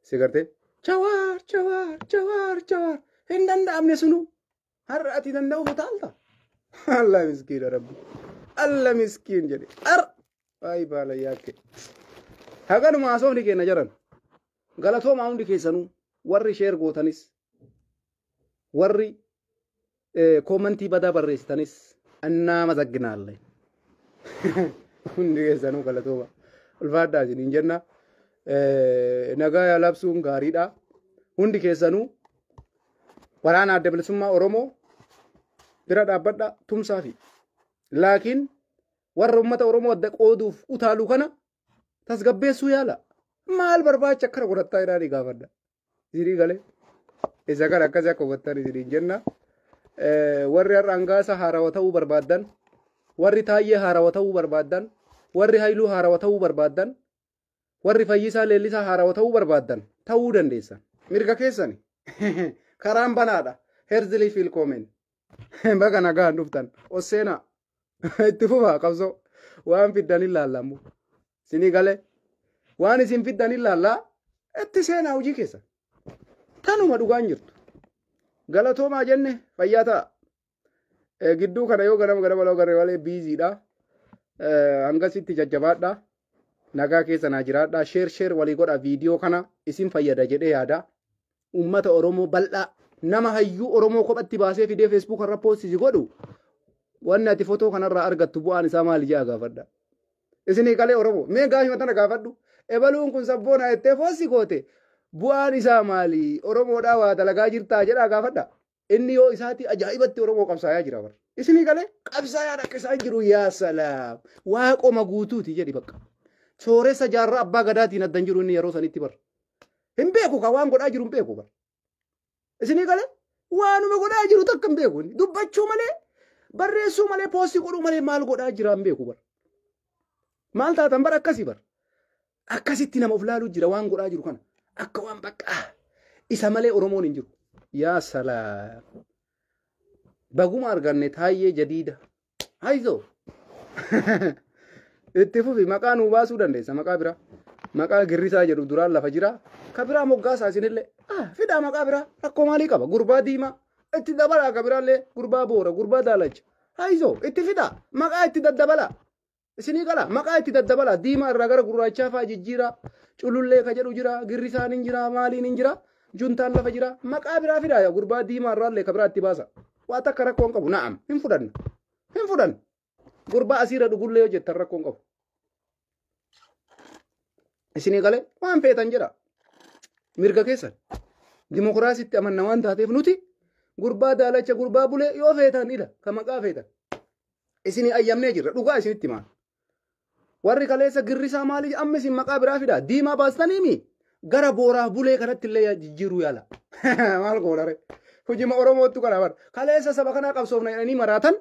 Si gartee jawaar jawaar jawaar jawaar hin danda'amne sunu Har'a ati danda'uuf utaalta. Allah miskiina rabbi. Allah miskiin jedhe. Har waayii baala yaakke. Haganuma haasofni keenya jiran. Galatoomaa hundi keessanuu warri sheer gootanis warri koomantii badaa barreessitanis annaa mazagginaale. Hundi keessanuu galatooma. Ulfaadhaa isiniin jenna. Nagaa yaa labsuun gaariidha. Hundi keessanuu waraana adda bilisummaa Oromoo bira dhaabbadha tumsaa fi laakiin warra uummata Oromoo adda qooduuf utaalu kana tasgabbeessuu yaala. Maal barbaacha akkana godhattaa jedhaa ni gaafadha. Isinii galee isa kana akkasii akka hubattan isiniin jenna. Warri har'a hangaasa haarawa ta'uu barbaaddan, warri taayyee haarawa ta'uu barbaaddan, warri hayluu haarawa ta'uu barbaaddan, Warri Fayyisaa Leellisaa haarawa ta'uu barbaaddan ta'uu dandeessan. Mirga keessani. Karaan banaadha. Herzli Filkomen. Baga nagaan dhuftan. Osseenaa. Itti fufaa qabsoo. Waan fiddan hin laalla ammoo. Isinii galee. Waan isin fiddan hin laallaa. Itti seenaa hojii keessa. Tanuma dhugaan jirtu. Galatoomaa jenne fayyaa ta'a. Eh, Gidduu kana yoo ganama ganama loo garee malee biiziidha. Eh, Hangasitti jajjabaadha. Nagaa keessa naa jiraadha. Sheer sheer walii godha viidiyoo kana isin fayyada jedhee yaada. Uummata Oromoo bal'aa nama hayyuu Oromoo kophatti baasee fidee Facebook irra poostisi godhu wanni ati fotoo kanarraa argattu bu'aan isaa maali jedha gaafadha. Isinii qalee Oromoo mee gaafima tana gaafadhu. Ebaluun kun sabboonaa jettee foossi goote bu'aan isaa maali? Oromoodhaa waa dalagaa jirtaa jedhaa gaafadha. Inni yoo isaatii ajaa'ibatti Oromoo qabsaayaa jira bar. Isinii galee qabsaayaan akka isaan jiru yaa salaam. Waaqoma guutuuti jedhi bakka. Sooressa jaarraa abbaa gadaatiin addan jiru inni yeroo sanitti bar. Hin beeku ka waan godhaa jiru hin beeku bar. Isinii galee waanuma godhaa jiru takka hin beeku inni. Dubbachuu malee barreessuu malee poostii godhuu malee maal godhaa jira hin beeku bar. Maal taatan bar akkasii bar. Akkasitti nama of laaluu jira waan godhaa jiru kana. Akka waan baqqaa isa malee Oromoon hin jiru. Yaa salaam. Baguma arganne taayyee jadiida. Haizoo. Itti fufi maqaa nuu baasuu dandeessa maqaa biraa. Maqaa girrisaa jedhu duraan lafa jira. Ka biraa moggaasaa isinillee. Ah, fidaa maqaa biraa rakkoo maalii qaba? Gurbaa diimaa. Itti dabalaa ka biraallee gurbaa boora gurbaa daalacha. Haizoo itti fidaa maqaa itti daddabalaa. Isinii gala maqaa itti daddabala diimaa irraa gara gurraachaa fa'aa jijjiira culullee ka jedhu jira girrisaan hin jira maaliin hin jira juntaan lafa jira maqaa biraa fidaa yaa gurbaa diimaa irraa illee ka biraa itti baasa waa takka rakkoo hin qabu na'am hin fudhanna hin fudhanna gurbaa asiirra dhugullee yoo jettan rakkoo hin qabu. Isinii galee waan feetan jedha mirga keessan dimokiraasiitti amanna waan taateef nuti gurbaa daalacha gurbaa bulee yoo feetan ila ka maqaa feetan Isinii ayyamnee jirra dhugaa isinitti himaa. Warri kaleessa girrisaa maali amma isin maqaa biraa fidaa diimaa baastanii mi gara booraaf bulee kanatti illee jijjiiruu yaala. Maal goonare? Hojima Oromoottu kana bar. Kaleessa saba kanaa qabsoofna jedhanii maraatan.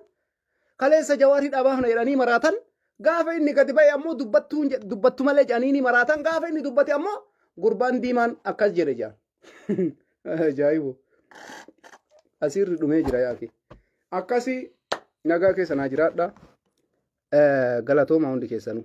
Kaleessa jawaar hidhaa baafna jedhanii maraatan. Gaafa inni gadi ba'e ammoo dubbattuun jedh- dubbattu malee jedhanii ni maraatan. Gaafa inni dubbate ammoo gurbaan diimaan akkas jedhe jedhan. Ajaa'ibu. Asiirri dhumee jira yaake. Akkasii nagaa keessa naa jiraadha. Galatoomaa hundi keessanuu.